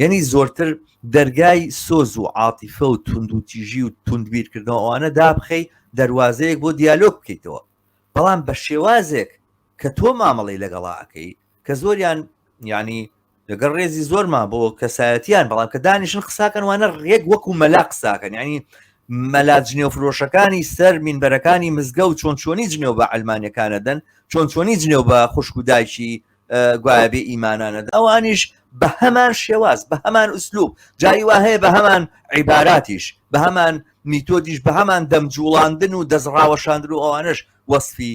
یعنی زۆرتر دەرگای سۆز و عاتیفە و توندوتیژی و توندبیرکردنەوە ئەوانە دابخەی دەواازەیەک بۆ دیالۆگ بکەیتەوە بەڵام بە شێوازێک کە تۆ مامەڵی لەگەڵاکەی کە زۆریان ینی لەگەڵ ڕێزی زۆرمان بۆ کەسایەتیان بەڵام کە دانیشن قساکەن وانە ڕێک وەکو مەلا قساکەن ینی مەلا جنێو فرۆشەکانی سەر مینبەرەکانی مزگە و چۆن چۆنی جنێو بە ئەلمانەکانە دەن چۆن چۆنی جنێو بە خوشک و دایکی گوایە بێ ئیمانانە ئەوانیش بە هەمان شێواز بە هەمان ئوسلوب جاری وا هەیە بە هەمان عیباراتیش بە هەمان میتۆدیش بە هەمان دەمجوڵاندن و دەستڕاوەشاندن و ئەوانش وەصفی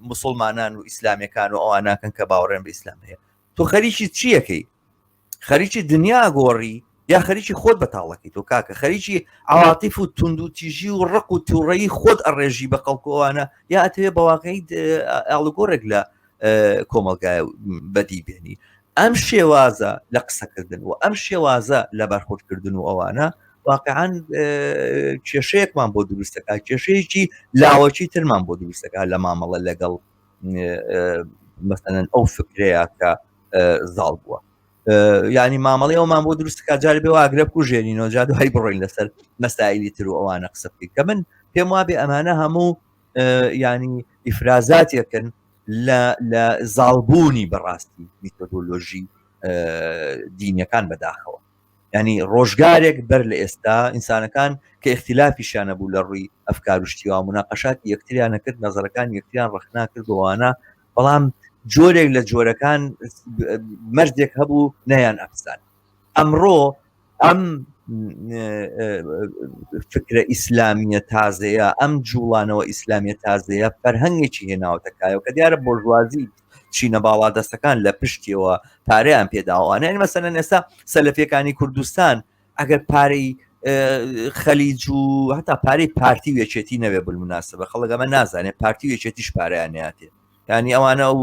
مسلمانان و ئیسلامەکان و ئەوان ناکەن کە باوەڕێن بە ئیسلام هەیە تۆ خەریکی چیەکەی خەریکی دنیا گۆڕی یا خەریکی خۆت بەتاڵەکەی تۆ کاکە خەریکی عواتیف و تونند و تیژی و ڕق و تووڕەی خۆت ئەڕێژی بە خەڵکۆوانە یا ئەتەوێ بەواقعی ئاڵگۆرێک لە کۆمەلگای بەدی بێنی ئەم شێوازە لە قسەکردن و ئەم شێوازە لە بەرخۆردکردن و ئەوانە واقعان کێشەیەکمان بۆ دروستەکە کێشەیەکی لاوەکی ترمان بۆ دروستەکە لە مامەڵە لەگەڵ مەسەن ئەو فکرەیە کە زاڵ بووە ینی مامەڵی ئەومان بۆ دروستکە جار بێ واگرە کوژێنینۆ جا دوای بڕۆین لەسەر مەسایلی تر و ئەوانە قسە بکەین کە من پێم وابێ ئەمانە هەموو ینی ئیفرازاتێکن لە زاڵبوونی بەڕاستی میتۆدۆلۆژی دینەکان بەداخەوە ینی ڕۆژگارێک بەر لە ئێستا ئینسانەکان کە اختلافیشانە بوو لە ڕووی ئەفکار و شتیوا مناقەشات یەکتریانە کرد نظرەکان یەکتریان ڕخنا کردوانە بەڵام جۆرێک لە جۆرەکان مەرزێک هەبوو نەیان ئەفسان ئەمڕۆ ئەم فکرە ئیسلامیە تازەیە ئەم جوڵانەوە ئیسلامیە تازەیە فەرهەنگێکی هێناوەتەکایەوە کە دیارە بۆژوازی چینە باڵا دەستەکان لە پشتیەوە پارەیان پێداوانە ئەمەسەنە نێستا سەلفەکانی کوردستان ئەگەر پارەی خەلیج و هەتا پارەی پارتی وێچێتی نەوێ بمناسە بە خەڵگەمە نازانێت پارتی وێچێتیش پارەیاناتێ ینی ئەوانە ئەو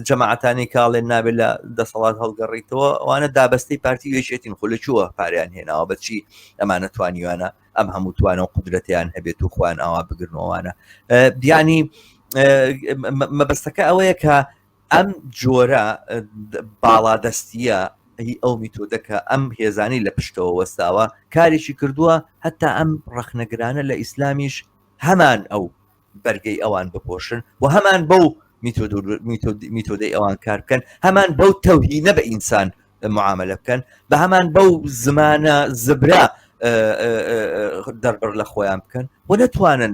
جەماعاتانی کاڵێن نابێت لە دەسەڵات هەڵگەڕیتەوە ئەوانە دابستی پارتی وێچێتین خو لە چووە پاریان هێناوە بەچی ئەمانە توانیوانە ئەم هەموو توانە و قدرەتیان هەبێت و خوان ئاوا بگرنەوەوانە بیانی مەبەستەکە ئەوەیە کە ئەم جۆرە باڵادەستیە هی ئەو میتۆدەکە ئەم هێزانی لە پشتەوە وەستاوە کارێکی کردووە هەتا ئەم ڕەخنەگرانە لە ئیسلامیش هەمان ئەو بەرگەی ئەوان بپۆشن و هەمان بەو میتۆدەی ئەوان کار بکەن هەمان بەو تەوهینە بە ئینسان معاملە بکەن بە هەمان بەو زمانە زبرا دەربڕ لە خۆیان بکەن و نەتوانن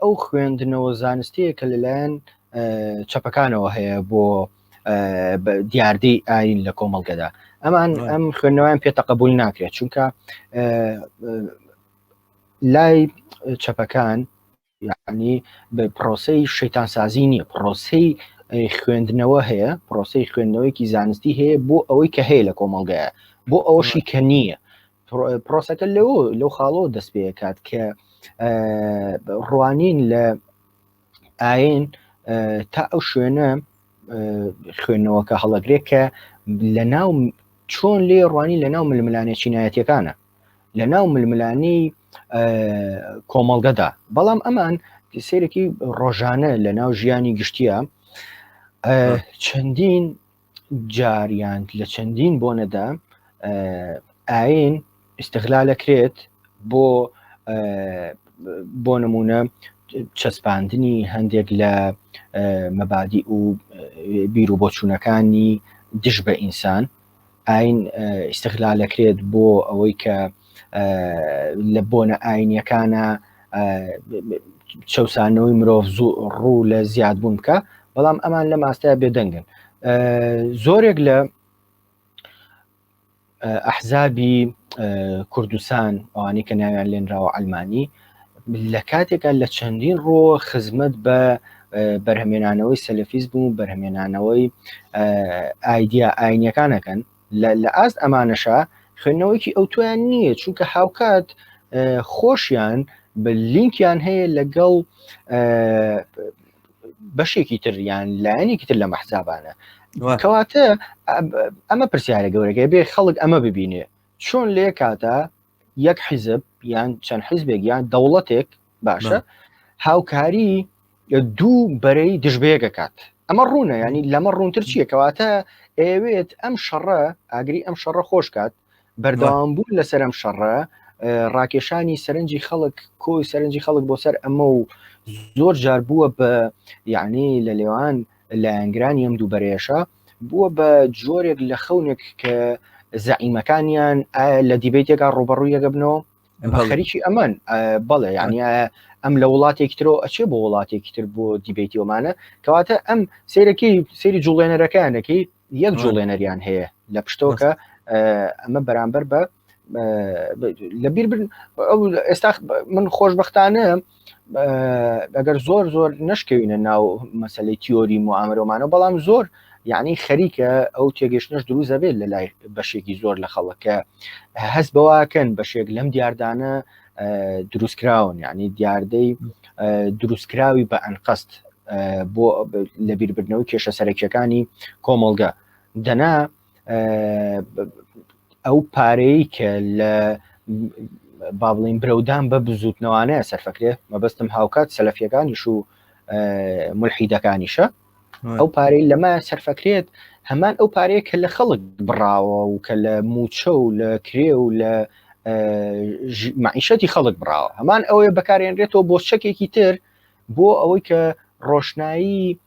ئەو خوێندنەوە زانستەیە کە لەلایەن چەپەکانەوە هەیە بۆ دیاردەی ئاین لە کۆمەڵگەدا ئەمان ئەم خوێندنەوەیان پێتە قبول ناکرێت چونکە لای چەپەکان یعنی بە پرۆسی شەیتان سازی نییە پرۆسی خوێندنەوە هەیە پرۆسی خوێندنەوەیکی زانستی هەیە بۆ ئەوەی کە هەیە لە کۆمەڵگایە بۆ ئەوەشی کە نییە پرۆسەکە لەو لەو خاڵەوە دەست پێکات کە ڕوانین لە ئاین تا ئەو شوێنە خوێندنەوەکە هەڵەگرێت کە لە ناو چۆن لێ ڕوانی لە ناو ململانێ چینایەتەکانە لە ناو ململانی کۆمەڵگەدا بەڵام ئەمان سێرەکی ڕۆژانە لە ناو ژیانی گشتیە چەندین جار یان لە چەندین بۆنەدا ئاین ئیسغلالەکرێت بۆ بۆ نمونە چەسپاندنی هەندێک لە مەبادی و بیر و بۆچوونەکانی دژ بە ئینسان ئاین ئیسغلالەکرێت بۆ ئەوەی کە لە بۆنە ئاینیەکانە چەسانەوەی مرۆڤ زوو ڕوو لە زیاد بوون بکە بەڵام ئەمان لە ماستای بێدەنگن زۆرێک لە ئەحزابی کوردستان ئەوانی کە ناویان لێنراوە ئەلمانی لە کاتێکە لە چەندین ڕۆ خزمەت بە بەرهمێنانەوەی سەلفیز بوو بەرهمێنانەوەی ئایدیا ئاینیەکانەکەن لە لە ئاست ئەمانەشا خوێندنەوەیەکی ئەوتۆیان نییە چونکە هاوکات خۆشیان بە لینکیان هەیە لەگەڵ بەشێکی تریان لایەنێکی تر لە مەحسابانە کەواتە ئەمە پرسیارە گەورەکە بێ خەڵک ئەمە ببینێ چۆن لێ کاتە یەک حیزب یان چەند حیزبێک یان دەوڵەتێک باشە هاوکاری دوو بەرەی دژبەیەکەکات ئەمە ڕوونە ینی لەمە ڕوونتر چییە کەواتە ئەوێت ئەم شەڕە ئاگری ئەم شەڕە خۆشکات بەردەوام بوون لەسەر ئەم شەڕە ڕاکێشانی سەرنجی خەڵک کۆی سەرنجی خەڵک بۆ سەر ئەمە و زۆر جار بووە بە یعنی لە لێوان لایەنگرانی ئەم دووبەرێشە بووە بە جۆرێک لە خەونێک کە زەعیمەکانیان لە دیبیتێکا ڕوبەڕوویەکە بنەوە خەریکی ئەمان بەڵێ یعنی ئەم لە وڵاتێکی ترۆ ئەچێ بۆ وڵاتێکی تر بۆ دیبێتی ئۆمانە کەواتە ئەم سیرەکەی سری جوڵێنەرەکانەکەی یەک جوڵێنەریان هەیە لە پشتۆکە ئەمە بەرامبەر بە لە بیربن ئێستا من خۆشببختانە ئەگەر زۆر زۆر نشکەوینە ناو مەسلەی تیۆری معامرۆمانەوە بەڵام زۆر یعنی خەریکە ئەو تێگەشتنش دروست دەبێت لە لای بەشێکی زۆر لە خەڵەکە هەست بەواکەن بەشێک لەم دیاردانە دروستکراون یعنی دیاردەی دروستکراوی بە ئەنقەست بۆ لەبیربردنەوەی کێشە سەرەکیەکانی کۆمەڵگە دەنا ئەو پارەیە کە لە با بڵین برەودان بە بزوتنەوانەیە سەرفەکرێ مەبەستم هاوکات سەلفیەکانیش و ملحیدەکانیشە ئەو پارەی لەمە سەرفەکرێت هەمان ئەو پارەیە کە لە خەڵک بڕاوە و کە لە موچە و لە کرێ و لە معیشەتی خەڵک بڕاوە هەمان ئەوەیە بەکارێنرێتەوە بۆ چەکێکی تر بۆ ئەوەی کە ڕۆشنایی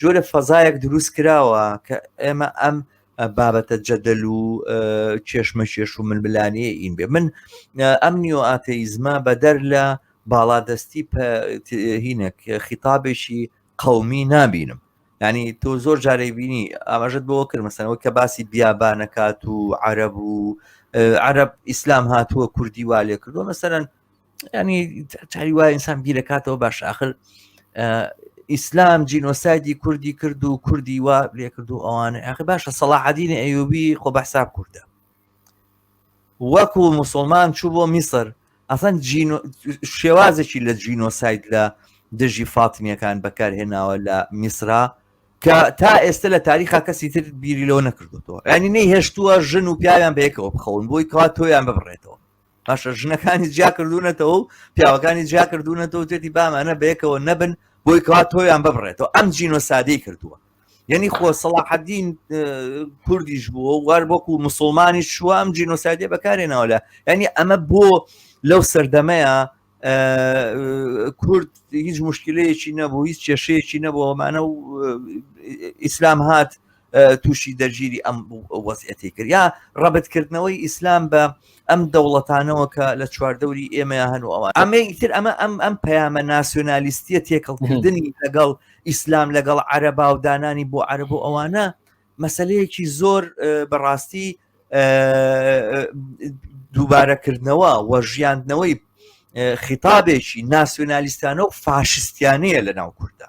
جۆرە فەزایەک دروست کراوە کە ئێمە ئەم بابەتە جەدەل و کێشمە کێش و ململانێ ئین بێ من ئەم نیۆ ئاتەیزمە بەدەر لە باڵادەستی هینێک خیتابێکی قومی نابینم ینی تۆ زۆر جارێ بینی ئاماژت بۆ کرد مەسەنەوە کە باسی بیابانەکات و عرب و عرب ئیسلام هاتووە کوردی والێ کردو مەسەرەن ینی چاری وای ئینسان بیرەکاتەوە باش آخر ئیسلام جینۆسایدی کوردی کرد و کوردی وا لێ کرد و ئەوانە ئەخی باشە سەڵاحدینە ئەیوبی خۆ بەحساب کووردە وەکو مسلمان چوو بۆ میسر ئەسەن شێوازێکی لە جینۆسایت لە دژی فاتمیەکان بەکارهێناوە لە میسرا کە تا ئێستا لە تاریخا کەسی تر بیری لەوە نەکردوەوە ینی نەی هێشتووە ژن و پیاویان بەیەکەوە بخەون بۆی کات تۆیان ببڕێتەوە باشە ژنەکانی جیا کردوونەتەوە و پیاوەکانی جیا کردوونەتەوە تێتی بامانە بەیەکەوە نەبن بۆی کەوا تۆیان ببڕێتەوە ئەم جینۆ سادەی کردووە یعنی خۆ سەڵاحدین کوردیش بووە وار وەکو مسلمانی شوام جینۆسایدێ بەکارێنەوە لە ینی ئەمە بۆ لەو سەردەمەیە کورد هیچ مشکلەیەکی نەبوو هیچ کێشەیەکی نەبوو ئەمانە و ئیسلام هات تووشی دەرگیری ئەم وەزیەتی کرد یا ڕەبتکردنەوەی ئیسلام بە ئەم دەوڵەتانەوە کە لە چواردەوری ئێمە هەن و ئەوان ئەمە تر ئەمە ئەم ئەم پەیامە ناسیۆنالیستیە تێکەڵکردنی لەگەڵ ئیسلام لەگەڵ عەرەبا و دانانی بۆ عەرب و ئەوانە مەسەلەیەکی زۆر بەڕاستی دووبارەکردنەوە و ژیاندنەوەی خیتابێکی ناسیۆنالیستانە و فاشستیانەیە لە ناو کوردە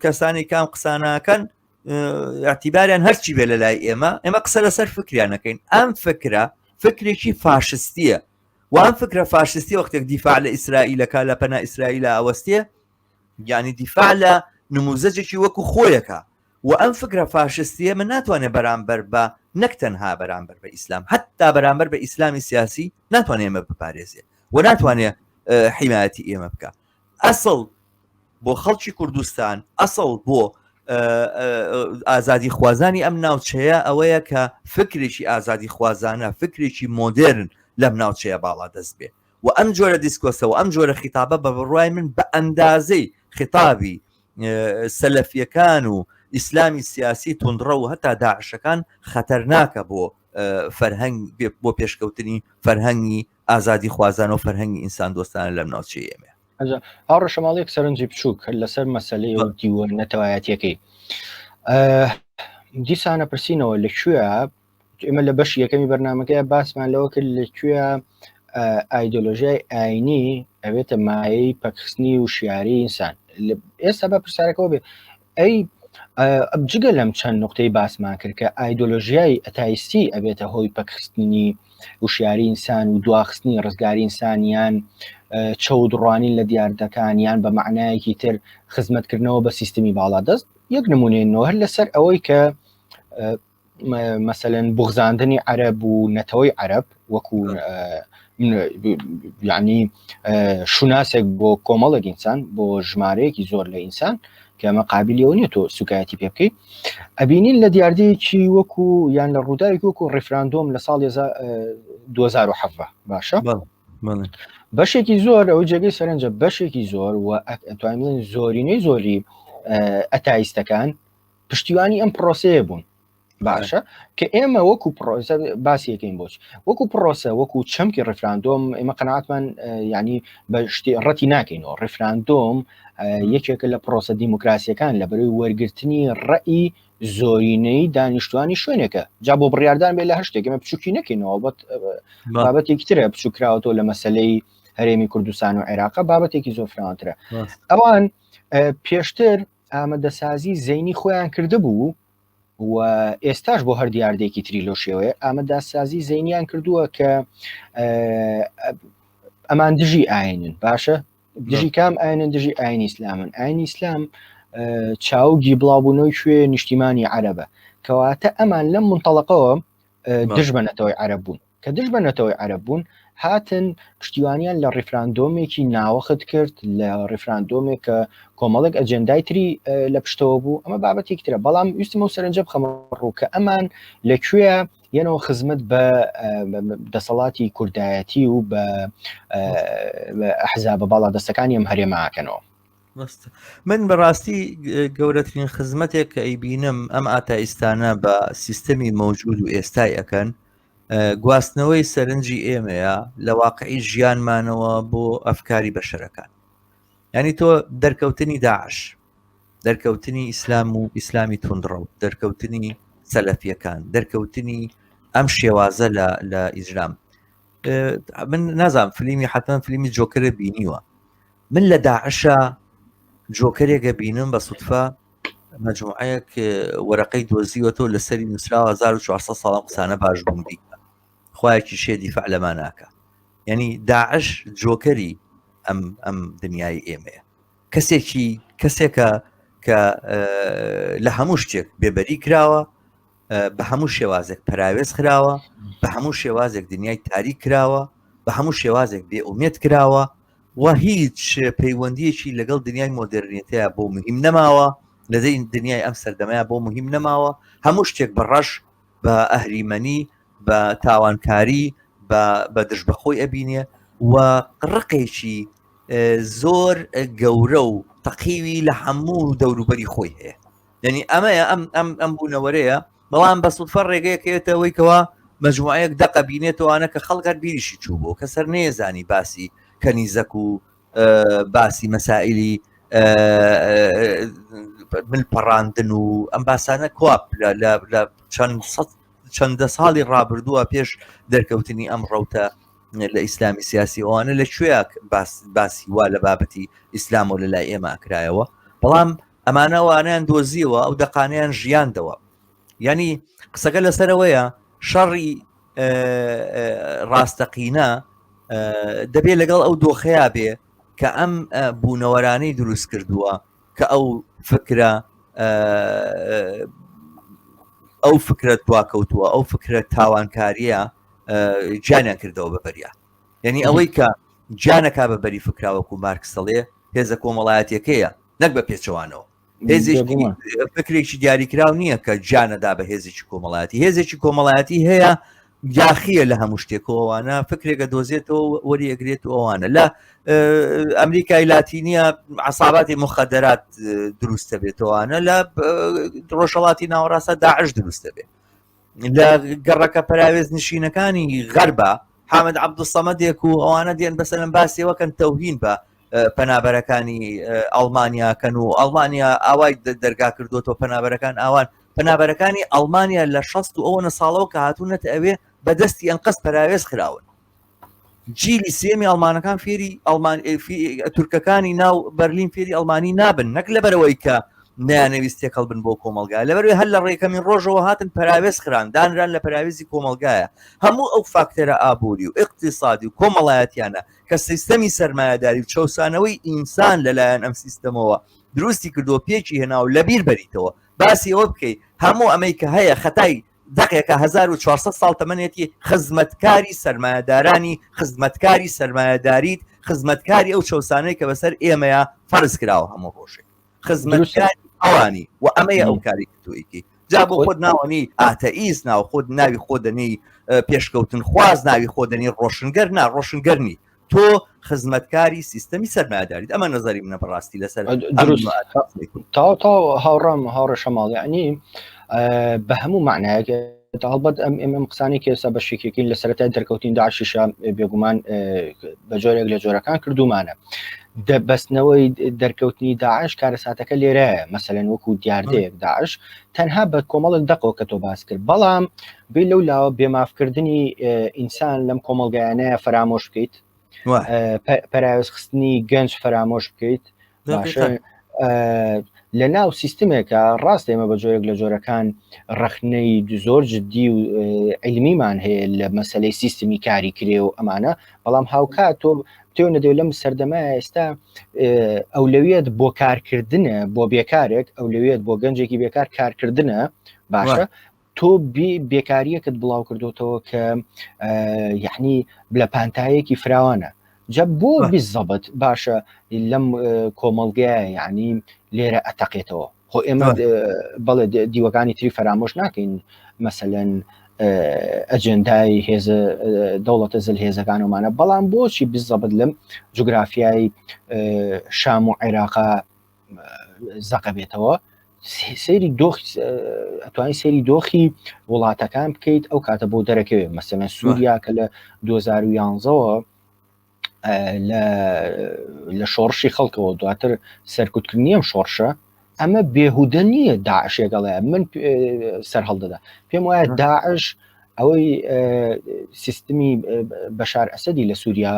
کەسانی کام قسانەکەن ئەتیباریان هەرچی بێ لە لای ئێمە ئێمە قسە لەسەر فکریانەکەین ئەم فکرە فکرێکی فاشستیە وان فکرە فاشستی وەختێک دیفاع لە ئیسرائیلەکە لە پەنا ئیسرائیل ئەوەستێ گیانی دیفاع لە نموزەجێکی وەکو خۆیەکە وە ئەم فکرە فاشستیە من ناتوانێ بەرامبەر بە نەک تەنها بەرامبەر بە ئیسلام حتا بەرامبەر بە ئیسلامی سیاسی ناتوانێ ئێمە بپارێزێ و ناتوانێ حیمایەتی ئێمە بکە ئەسڵ بۆ خەڵکی کوردستان ئەسڵ بۆ ئازادی خوازانی ئەم ناوچەیە ئەوەیە کە فکرێکی ئازادی خوازانە فکرێکی مۆدرن لەم ناوچەیە باڵا دەست بێ و ئەم جۆرە دیسکۆسەوە ئەم جۆرە خیتابە بە بڕای من بە ئەندازەی خیتابی سەلەفیەکان و ئیسلامی سیاسی تونندڕە و هەتا داعشەکان خەتەرناکە بۆ فەرهەنگ بۆ پێشکەوتنی فەرهەنگی ئازادی خوازان و فەرهەنگی ئینسان دۆستانە لەم ناوچی ئێمە ئەو ڕەشەماڵێک سەرنجی بچووک لەسەر مەسلەی و دیوە نەتەوایەتەکەی دیسانە پرسیینەوە لە کوێ ئێمە لە بەش یەکەمی بەرنمەکەی باسمان لەوە کرد لەکوێ ئایدۆلۆژیای ئاینی ئەوێتە مایەی پەکخستنی و شیاری ئینسان ئێستا بە پرسیارەکەەوە بێ ئەی جگە لەم چەند نقطەی باسمان کرد کە ئایدۆلۆژیای ئەتایستی ئەبێتە هۆی پەکخستنی وشیاری ئینسان و دواخستنی ڕزگاری ئینسانیان چەودڕوانین لە دیاردەکان یان بە معنایەکی تر خزمەتکردنەوە بە سیستمی باڵا دەست یەک نمونێ نۆهر لەسەر ئەوەی کە مەسەلەن بوغزاندنی عەرەب و نەتەوەی عەرەب وەکو یعنی شوناسێک بۆ کۆمەڵێک ئینسان بۆ ژمارەیەکی زۆر لە ئینسان کەمە قابلیەوە نیە تۆ سوکایەتی پێ بکەیت ئەبینین لە دیاردەیەکی وەکو یان لە ڕووداوێک وەکو ڕیفراندۆم لە ساڵ 2010 باشە بەشێکی زۆر ئەو جێگەی سەرنجە بەشێکی زۆر و توانین زۆرینەی زۆری ئەتایستەکان پشتیوانی ئەم پرۆسەیە بوون باشە کە ئێمە وەکو پرۆسە باسیەکەین بۆچ وەکو پرۆسە وەکو چەمکی ڕفراندۆم ئێمە قەناتمان ینی بە شتی ڕەتی ناکەینەوە ڕفراندۆم یەکێکە لە پرۆسە دیموکراسیەکان لە بەروی وەرگرتنی ڕەئی زۆرینەی دانیشتوانی شوێنێکە جا بۆ بڕاردان بێ لە هەشتێکمە بچوکی نەکەینەوە بەت بابەتێکی ترە بچوکراوەەوە لە مەسلەی هەرێمی کوردستان و عێراق بابەتێکی زۆر فراوانترە ئەوان پێشتر ئامادەسازی زەینی خۆیان کردبوو و ئێستاش بۆ هەر دیاردێکی تری لۆ شێوەیە ئامادەسازی زەینیان کردووە کە ئەمان دژی ئاینن باشە دژی کام ئاینن دژی ئاین ئیسلامن ئاین ئیسلام چاوگی بڵاوبوونەوەی شوێ نیشتیمانی عەرەبە کەواتە ئەمان لەم منتەڵقەوە دژبەنەتەوەی عەرە بوون کە دژ بە نەتەوەی عەرەب بوون هاتن پشتیوانیان لە ڕیفراندۆمێکی ناوەخت کرد لە ڕیفراندۆمێک کە کۆمەڵێک ئەجێندای تری لە پشتەوە بوو ئەمە بابەتێک ترە بەڵام ویستمە و سەرنجە بخەمە ڕوو کە ئەمان لەکوێ یەنەوە خزمەت بە دەسەڵاتی کوردایەتی و بە حزابە باڵا دەستەکانی ئەم هەرێماکەنەوە من بەڕاستی گەورەترین خزمەتێک کە ئەیبینم ئەم ئاتایستانە بە سیستەمی مەوجود و ئێستای ئەەکەن گواستنەوەی سەرنجی ئێمەیە لە واقعی ژیانمانەوە بۆ ئەفکاری بەشەرەکان ینی تۆ دەرکەوتنی داعش دەرکەوتنی ئیسلام و ئیسلامی تونندڕە و دەرکەوتنی سەلەفیەکان دەرکەوتنی ئەم شێوازە لە ئیسلام من نازان فلیمی حتمما فلیمی جۆکرە بینیوە من لە داعشە جۆکرێکە بینم بە سوتفە مەجموعەیەک وەرەقەی دۆزیوەتەوە لە سەری نووسراوە 1400 ساڵ قسانە باش بوون بیکە خوایەکی شێ دیفاع لەما ناکە یعنی داعش جۆکەری ئەم ئەم دنیای ئێمەیە کەسێکی کەسێکە کە لە هەموو شتێک بێبەری کراوە بە هەموو شێوازێک پراوێز خراوە بە هەموو شێوازێک دنیای تاری کراوە بە هەموو شێوازێک بێ ئومێت کراوە و هیچ پەیوەندیەکی لەگەڵ دنیای مۆدررنیەتەیە بۆ مهم نەماوە لەدەی دنیای ئەم سەردەمەیە بۆ مهم نەماوە هەموو شتێک بە ڕەش بە ئەهریمەنی بە تاوانکاری بە دژ بەخۆی ئەبینێ و ڕقێکی زۆر گەورە و تەقیوی لە هەموو دەوروبەری خۆی هەیە یعنی ئەمەیە ئەم ئەم ئەم بوونەوەرەیە بەڵام بە سوفە ڕێگەیەکێتەوەی کەەوە مجموعەیەک دەقە بینێتەوەوانە کە خەڵگەر بیریشی چوو بۆ کە سەر نێزانی باسی کەنیزەک و باسی مەسائلی من پەڕاندن و ئەم باسانە کوپ لە چەند چەندە ساڵی ڕابردووە پێش دەرکەوتنی ئەم ڕوتە لە ئیسلامی سیاسی ئەوانە لە کوێک باسی وا لە بابەتی ئیسلام و لە لای ئێمە ئەکرایەوە بەڵام ئەمانە وانیان دۆزیەوە ئەو دەقانیان ژیاندەوە ینی قسەکە لەسەرەوەیە شەڕی ڕاستەقینە دەبێت لەگەڵ ئەو دۆخەیە بێ کە ئەم بوونەوەرانەی دروست کردووە کە ئەو فکرە ئەو فکرە دواکەوتووە ئەو فکرە تاوانکاریە جانیان کردەوە بە بەریا یعنی ئەوەی کە جانەکە بە بەری فکراوەکو مارکسەڵێ هێزە کۆمەڵایەتەکەیە نەک بە پێچەوانەوە هێزێکی فکرێکی دیاریکراو نییە کە جانەدا بە هێزێکی کۆمەڵایەتی هێزێکی کۆمەڵایەتی هەیە یاخیە لە هەموو شتێکەوەوانە فکرێکە دۆزێتەوە وەری ئەگرێت و ئەوانە لە ئەمریکای لاتینیە عساباتی مخدرات دروستە بێتەوەوانە لە ڕۆژەڵاتی ناوەڕاستە داعش دروستە بێت لە گەڕەکە پەراوێز نشینەکانی غەربە حامد عبدسەمەدێک و ئەوانە دێن بەسەرم باسیەوەکەن تەوهین بە پەنابەرەکانی ئەڵمانیاکەن و ئەڵمانیا ئاوای دەرگا کردوەوە پەنابەرەکان ئاوان پەنابەرەکانی ئەڵمانیا لە شەست و ئەوەنە ساڵەوە کە هاتوونەت ئەوێ بەدەستی ئەنقەست پەراوێز خراون جیلی سێمی ئەڵمانەکان فێری ئەڵمان تورکەکانی ناو بەرلین فێری ئەڵمانی نابن نەک لەبەرەوەی کە نیانەویست تێکەڵ بن بۆ کۆمەلگا لەبەروێ هەر لە ڕێکەمین ڕۆژەوە هاتن پراوێز خران دانران لە پراوێزی کۆمەلگایە هەموو ئەو فاکتەرە ئابووری و اقتصادی و کۆمەڵایەتیانە کە سیستەمی سەرمایهداری و چەسانەوەی ئینسان لەلایەن ئەم سیستەمەوە دروستی کردو پێکی هێناو لەبیر بەریتەوە باسی ئەوە بکەیت هەموو ئەمەی کە هەیە خەتای دەقێکە هەزار و چوار سەد ساڵ تەمەنێتی خزمەتکاری سەرمایەدارانی خزمەتکاری سەرمایەداریت خزمەتکاری ئەو چەسانەی کە بەسەر ئێمەیە فەرز کراوە هەموو ڕۆژێک خزمەتکاری ئەوانی و ئەمەیە ئەو کاری تویکی جا بۆ خۆت ناوەنی ئاتەئیس ناو خۆت ناوی خۆ دەنی پێشکەوتن خواز ناوی خۆ دەنی ڕۆشنگەر نا ڕۆشنگەرنی تۆ خزمەتکاری سیستەمی سەرمایداریت ئەمە نظری منە بەڕاستی لەسەر تاو تاو هاوڕام هاوڕێ شەماڵیانی بە هەموو معنایەک هەڵبەت ئەم ئێمەم قسانی کێسا بە شێکێکی لە سەرەتای دەرکەوتین داعشیشە بێگومان بە جۆرێک لە جۆرەکان کردومانە دەبستنەوەی دەرکەوتنی داعش کارەساتەکە لێرەیە مەسەلەن وەکو دیاردەیەک داعش تەنها بە کۆمەڵک دەقەوە کە تۆ باس کرد بەڵام بی لەو لاوە بێمافکردنی ئینسان لەم کۆمەلگایانەیە فەرامۆش بکەیت پەراوێز خستنی گەنج فەرامۆش بکەیت لە ناو سیستمێکە ڕاست ئێمە بە جۆرێک لە جۆرەکان ڕخنەی زۆر جددی و علمیمان هەیە لە مەسلەی سیستمی کاری کرێ و ئەمانە بەڵام هاوکات تۆ تێو نەدەێ لەم سەردەمە ئێستا ئەو لەوێت بۆ کارکردنە بۆ بێکارێک ئەو لەوێت بۆ گەنجێکی بێکار کارکردنە باشە تۆ بێکاریەکت بڵاو کردوتەوە کە یعنی بلە پانتایەکی فراوانە جە بۆ بیزەبت باشە لەم کۆمەڵگە یعنی لێرە ئەتەقێتەوە خۆ ئێمە بەڵێ دیوەکانی تری فەرامۆش ناکەین مەسەەن ئەجندای هێز دەوڵەتە زل هێزەکانمانە بەڵام بۆچی بزەبت لەم جوگرافیای شام و عێراقا زەقە بێتەوە سری دۆخ ئەتوانی سری دۆخی وڵاتەکان بکەیت ئەو کاتە بۆ دەرەکەوێت مەسەە سووریا کە لە 2011ەوە لە شۆڕشی خەڵکەوە دواتر سەرکوتکردنیم شۆڕشە ئەمە بێهودە نییە داعشێکەڵێ من سەر هەڵدەدا پێم وایە داعش ئەوەی سیستمی بەشار ئەسەدی لە سووریا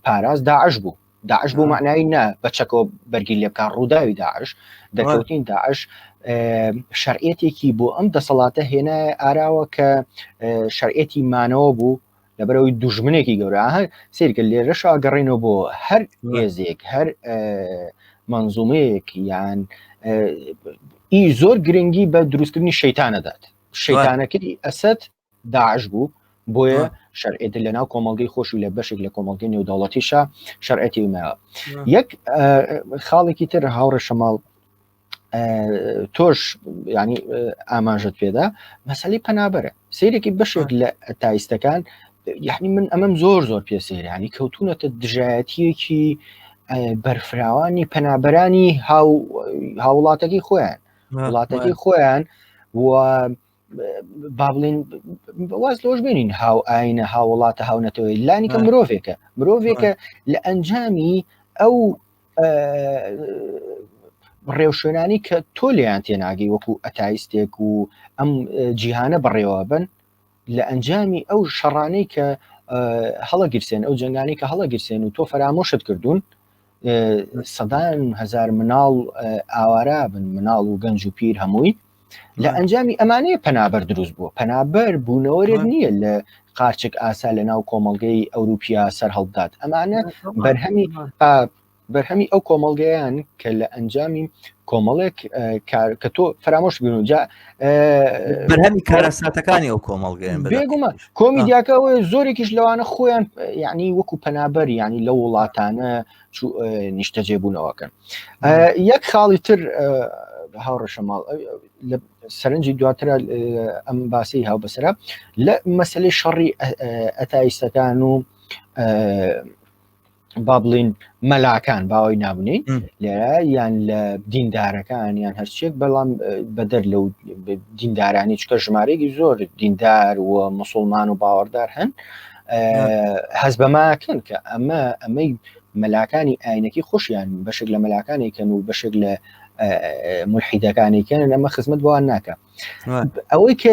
پاراز داعش بوو داعش بۆ معنای نا بەچەکەوە بەرگی لێ بکە ڕووداوی داعش دەکەوتین داعش شەرعەتێکی بۆ ئەم دەسەڵاتە هێنایە ئاراوە کە شەرعەتی مانەوە بوو لەبەرەوەی دوژمنێکی گەورە هەر سیرکە لێرەش ئاگەڕێنەوە بۆ هەر هێزێک هەر منزومەیەک یان ئی زۆر گرنگی بە دروستکردنی شەیتانە دات شەیتانەکەی ئەسد داعش بوو بۆیە شەرعێت لە ناو کۆمەڵگەی خۆشی لە بەشێک لە کۆمەڵگەی نێودەوڵەتیشە شەرعەتی ماوە یەک خاڵێکی تر هاوڕێ شەماڵ تۆش ینی ئاماژت پێدا مەسلی پەنابەرە سیرێکی بەشێک لە تایستەکان یعنی من ئەمەم زۆر زۆر پێ سەیرانی کەوتونەتە دژایەتیەکی بەرفراوانی پەنابەرانی هاوڵاتەکەی خۆیان وڵاتەکەی خۆیان و بابلین واز لۆش بێنین هاو ئاینە هاوڵاتە هاونەتەوەی لانیکە مرۆڤێکە مرۆڤێکە لە ئەنجامی ئەو ڕێوشوێنانی کە تۆ لێیان تێناگەی وەکو ئەتایستێک و ئەم جیهانە بەڕێوە بن لە ئەنجامی ئەو شەڕانەی کە هەڵەگیرسێن ئەو جنگانی کە هەڵەگیرسێن و تۆ فەرامۆشت کردوون سەدان هزار مناڵ ئاوارا بن مناڵ و گەنج و پیر هەمووی لە ئەنجامی ئەمانەیە پەنابەر دروست بووە پەنابەر بوونەوەرێت نییە لە قارچک ئاسا لە ناو کۆمەلگەی ئەوروپیا سەر هەڵبدات ئەمانە بەرهەمی بەرهەمی ئەو کۆمەلگەیان کە لە ئەنجامی کۆمەڵێک کە تۆ فرامۆش بنوجا بەرهەمی کارەساتەکانی ئەو کۆمەڵگەیان بێگومان کۆمیدیاکە ئەوەیە زۆرێکیش لەوانە خۆیان یعنی وەکو پەنابەر ینی لە وڵاتانە نیشتەجێ بوونەوەکەن یەک خاڵی تر هاوڕەشە ماڵ لە سەرنجی دواترە ئەم باسی هاو بەسرە لە مەسلەی شەڕی ئەتایستەکان و با بڵین مەلاکان باوەی نابنین لێرە یان لە دیندارەکان یان هەرچێک بەڵام بەدەر لەو دیندارانی چکە ژمارەێکی زۆر دیندار و مسلمان و باوەڕدار هەن هەز بەماکەن کە ئەمە ئەمەی مەلاکانی ئاینەکی خۆشیان بەشێک لە مەلاکانی کەن و بەشێک لە ملحیدەکانی کەن ئەمە خزمەت بۆوان ناکە ئەوەی کە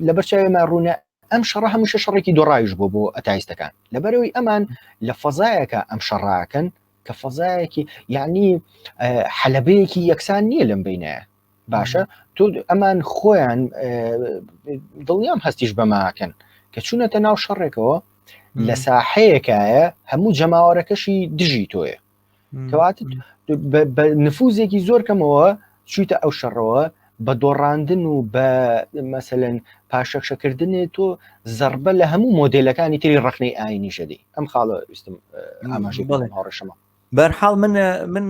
لەبەر چاوێمە ڕوونە ئەم شەڕە هەمیشە شەڕێکی دۆڕاویش بووە بۆ ئەتایستەکان لەبەرەوەی ئەمان لە فەزایەکە ئەم شەڕاکەن کە فەزایەکی یعنی حەلبەیەکی یەکسان نییە لەم بینایە باشە تۆ ئەمان خۆیان دڵنیام هەستیش بەماکەن کە چوونەتە ناو شەڕێکەوە لە ساحەیەکایە هەموو جەماوەرەکەشی دژی تۆیە کەوات بە نفوزێکی زۆر کەمەوە چیتە ئەو شەڕەوە بە دۆڕاندن و بە مەسەن پاشەکشەکردنێ تۆ زربە لە هەموو مۆدلەکانی تری ڕخنەی ئاینی شەدی ئەم خاڵە ویستم ئاماژی بڵێ هاڕشەمە بەرحاڵ من من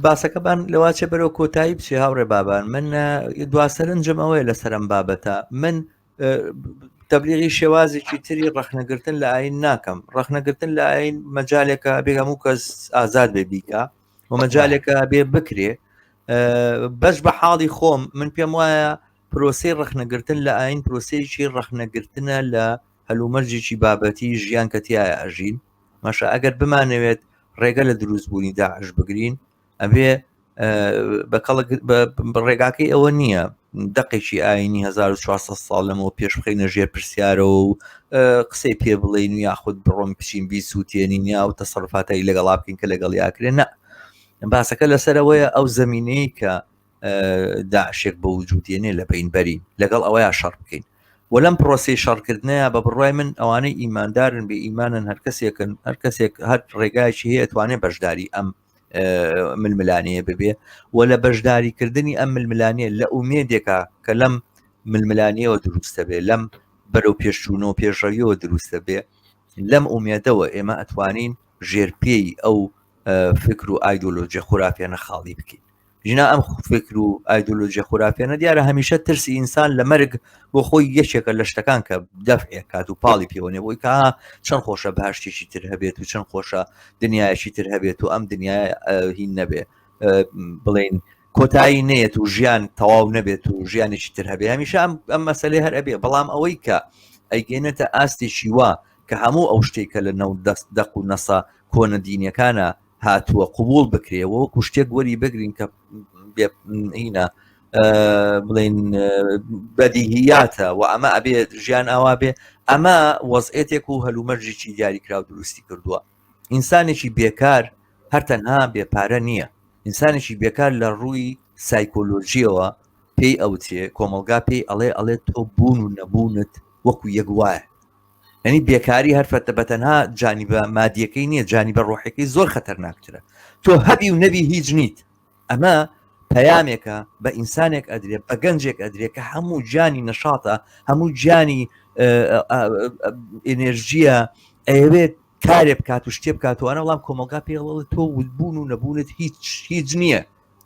باسەکەبان لەواچێ بەرەو کۆتایی بچێ هاوڕێ بابان من دواسەرنجم ئەوەیە لەسەرم بابەتە من تەبلیغی شێوازێکی تری ڕخنەگرتن لە ئاین ناکەم ڕخنەگرتن لە ئاین مەجالێکە بێ هەموو کەس ئازاد بێ بیکە و مەجالێکە بێ بکرێ بەش بە حاڵی خۆم من پێم وایە پرۆسی ڕخنەگرتن لە ئاین پرۆسێکی ڕخنەگرتنە لە هەلومەرجێکی بابەتی ژیان کە تایە ئەژین مەشە ئەگەر بمانەوێت ڕێگە لە دروستبوونی داعش بگرین ئەبێ بەکەڵک ڕێگاکەی ئەوە نییە دقێکی ئاینی 1400 ساڵ لەمەوە پێش بخینە ژێر پرسیارەوە و قسەی پێ بڵین و یاخود بڕۆم بچین بیس و تێنین یا و تەسەرفاتایی لەگەڵا بکەین کە لەگەڵ یاکرێن نە باسەکە لەسەرەوەیە ئەو زمینەیە کە داشێک بە وجودێنێ لە بینبەرین لەگەڵ ئەوەیە شەڕ بکەین وەلم پرۆسی شەڕکردنەیە بە بڕای من ئەوانەی ئیماندارن بە ئیمانن هەر کەسێکن هەر کەسێک هەر ڕێگایکی هەیە توانێت بەشداری ئەم ململانەیە ببێ و لە بەشداریکردنی ئەم ململانێ لە ئومێدێکا کە لەم ململانەوە دروستە بێ لەم بەرەو پێشچوونەوە پێشڕەویەوە دروستە بێ لەم ئومێدەوە ئێمە ئەتوانین ژێرپێی ئەو فکر و ئایدۆلۆژیە خورافێنە خاڵی بکەین ژنا ئەم فکر و ئایدۆلۆژیە خورافێنە دیارە هەمیشە ترسی ئینسان لە مەرگ بۆ خۆی یەکێکە لە شتەکان کە دەفعێک کات و پاڵی پێوەێ بۆی کا چەند خۆشە باشتێکی تر هەبێت و چەند خۆشە دنیایەکی تر هەبێت و ئەم دنیا هین نەبێ بڵین کۆتایی نێت و ژیان تەواو نەبێت و ژیانێکی تر هەبێ هەمیشە ئەم ئەم مەسلێ هەر ئەبێ بەڵام ئەوەی کە ئەیگەێنێتە ئاستێکی وا کە هەموو ئەو شتێکە لە نەو دەست دەق و نەسا کۆنە دینەکانە هاتووە قوبول بکرێ وەکو شتێک وەری بگرین کە هینە بڵین بەدیهیاتە و ئەمە ئەبێت ژیان ئاوا بێ ئەمە وەزئێتێک و هەلومەرجێکی دیاریکرااو دروستی کردووە ئینسانێکی بێکار هەر تەنها بێپارە نییە ئینسانێکی بێکار لە ڕووی سایکۆلۆژیەوە پێی ئەوتێ کۆمەلگا پێی ئەڵێ ئەڵێ تۆ بوون و نەبوونت وەکو یەک وایە ینی بێکاری هەر فەتە بە تەنها جانی بە مادیەکەی نییە جانی بە ڕۆحەکەی زۆر خەتەرناکترە تۆ هەبی و نەبی هیچ نیت ئەمە پەیامێکە بە ئینسانێک ئەدرێت بە گەنجێک ئەدرێت کە هەموو جانی نەشاتە هەموو جانی ئێنێرژیە ئەوێت کارێ بکات و شتێ بکاتوانە بەڵام کۆمەلگا پێڵەوە تۆ ودبوون و نەبوونت هیچ هیچ نییە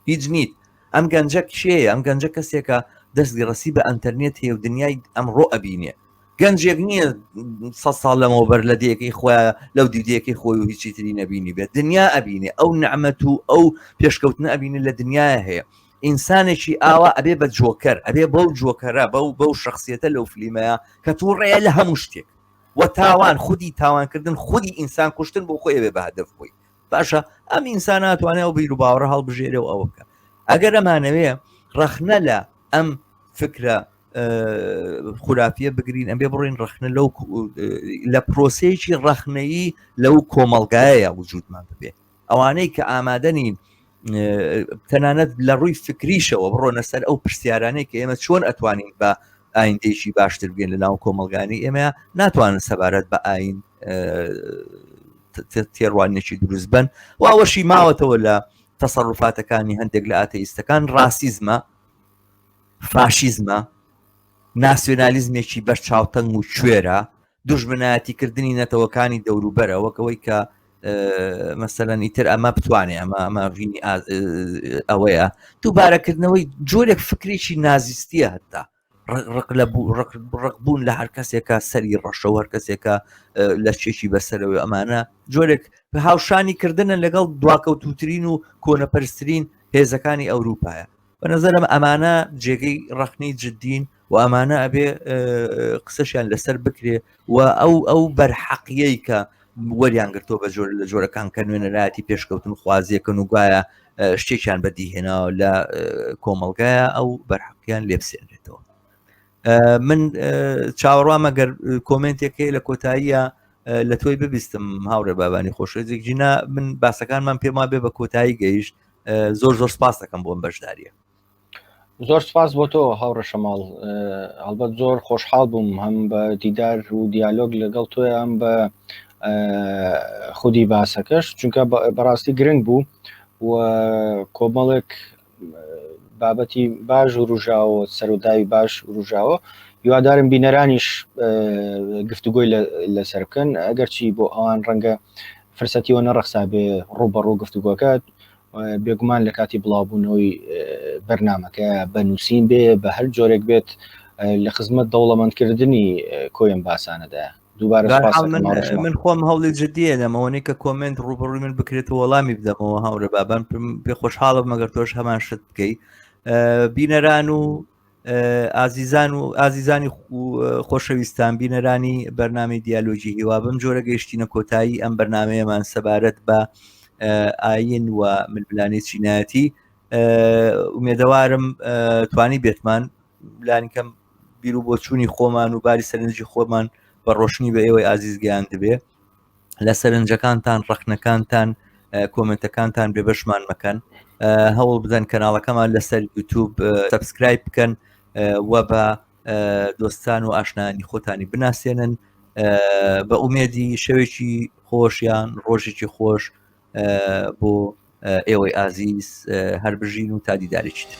هیچ نیت ئەم گەنجە کێیە ئەم گەنجە کەسێکە دەستی ڕسی بە ئەتەرنێت هەیە و دنیای ئەمڕۆ ئەبینێ گەنجێک نییە سە ساڵ لەمەوە بەر لە دەیەکەی خۆە لەو دیدەیەکەی خۆی و هیچی تری نەبینی بێت دنیا ئەبینێ ئەو نەعممەت و ئەو پێشکەوتنە ئەبینێ لە دنیاە هەیە ئینسانێکی ئاوا ئەبێ بە جۆکەر ئەبێ بەو جۆکەرە بەو بەو شخصیەتە لەو فلیمەیە کە تووڕەیە لە هەموو شتێک وە تاوان خودی تاوانکردن خودی ئینسان کوشتن بۆ خۆی ئەوێ بە هەدەف بووی باشە ئەم ئینسان ناتوانێت ئەو بیر و باوەڕە هەڵبژێرێ و ئەوە بکە ئەگەر ئەمانەوێ ڕەخنە لە ئەم فکرە خورافە بگرین ئەمێ بڕین ڕخنە لەو لە پرۆسەیەکی ڕەخنەیی لەو کۆمەلگایە وجودمان ببێ ئەوانەی کە ئامادەنین تەنانەت لە ڕووی فکریشەوە بڕۆنە سەر ئەو پرسیارانەی کە ئێمە چۆن ئەتوانین بە ئایندێکی باشتر بگەن لە ناو کۆمەلگانی ئێمە ناتوانن سەبارەت بە ئاین تێڕوانێکی دروست بن و ئەوەشی ماوەتەوە لە تەسەڕفاتەکانی هەندێک لە ئاتەئیستەکان ڕاسیزمە فاشیزمە ناسیۆنالیزمێکی بەرچاوتەنگ و کوێرە دوژمنایەتیکردنی نەتەوەکانی دەوروبەرە وەک ئەوەی کە مەسەەن ئیتر ئەمە بتوانێ ئەمە ئەمە ژینی ئەوەیە دووبارەکردنەوەی جۆرێک فکرێکی نازیستیە هەتا ڕق لە بوو ڕق بوون لە هەر کەسێکە سەری ڕەشەوە هەر کەسێکە لە شتێکی بەسەرەوە ئەمانە جۆرێک بە هاوشانی کردنە لەگەڵ دواکەوتوترین و کۆنەپەرسترین هێزەکانی ئەوروپایە بە نظرم ئەمانە جێگەی ڕخنی جددین و ئەمانە ئەبێ قسەشیان لەسەر بکرێ و ئەو ئەو بەرحەقیەی کە وەریان گرتۆ بە جۆر لە جۆرەکان کە نوێنەرایەتی پێشکەوتن خوازیەکەن و گوایە شتێکیان بەدیهێناوە لە کۆمەلگایە ئەو بەرحەقیان لێبسێنرێتەوە من چاوەڕوامە گەر کۆمنتێکی لە کۆتاییە لە تۆی ببیستم هاوڕێ بابانی خۆشێک جینا من باسەکانمان پێما بێ بە کۆتایی گەیشت زۆر زۆر سپاس دەکەم بۆم بەشداریە زۆر سپاس بۆ تۆ هاوڕەشەماڵ هەڵبەت زۆر خۆشحاڵ بووم هەم بە دیدار و دیالۆگ لەگەڵ تۆ ئەم بە خودی باسەکەش چونکە بەڕاستی گرنگ بوو و کۆمەڵێک بابەتی باش وروژاوە سەروداوی باش وروژاوە هیوادارم بینەرانیش گفتوگۆی لەسەر بکەن ئەگەرچی بۆ ئەوان ڕەنگە فرسەتیەوە نەڕەخسابێ ڕووبەڕوو گفتوگۆکەت بێگومان لە کاتی بڵاوبوونەوەی بەرنمەکە بە نووسین بێ بە هەر جۆرێک بێت لە خزمەت دەوڵەمەندکردنی کۆیان باسانەدا من خۆم هەوڵی جددیە لەمەوەنی کە کۆمنت ڕوبڕوی من بکرێت و وەڵامی بدەمەوە هاورە بابان پێ خۆشحاڵم مەگەر تۆش هەمان شت بکەیت بینەران و ئازیزان و ئازیزانی خۆشەویستان بینەرانی بەرنامی دیالۆجی هیوا بم جۆرە گەیشتینە کۆتایی ئەم بەرنمەیەمان سەبارەت بە ئاین و ململانی چینایەتی ئومێدەوارم توانی بێتمان لانیکەم بیرو بۆچوونی خۆمان و باری سەرنجی خۆمان بە ڕۆشنی بە ئێوەی ئازیزگەیان دەبێ لە سەرنجەکانتان ڕخنەکانتان کۆمنتەکانتان بێ بەشمان مەکەن هەوڵ بدەن کەناڵەکەمان لەسەر یوتوب سبسکرایب بکەن و بە دۆستان و ئاشنانی خۆتانی بناسێنن بە ئومێدی شەوێکی خۆشیان ڕۆژێکی خۆش بۆ ئێوەی ئازیز هەر بژین و تا دیدارێکی تر.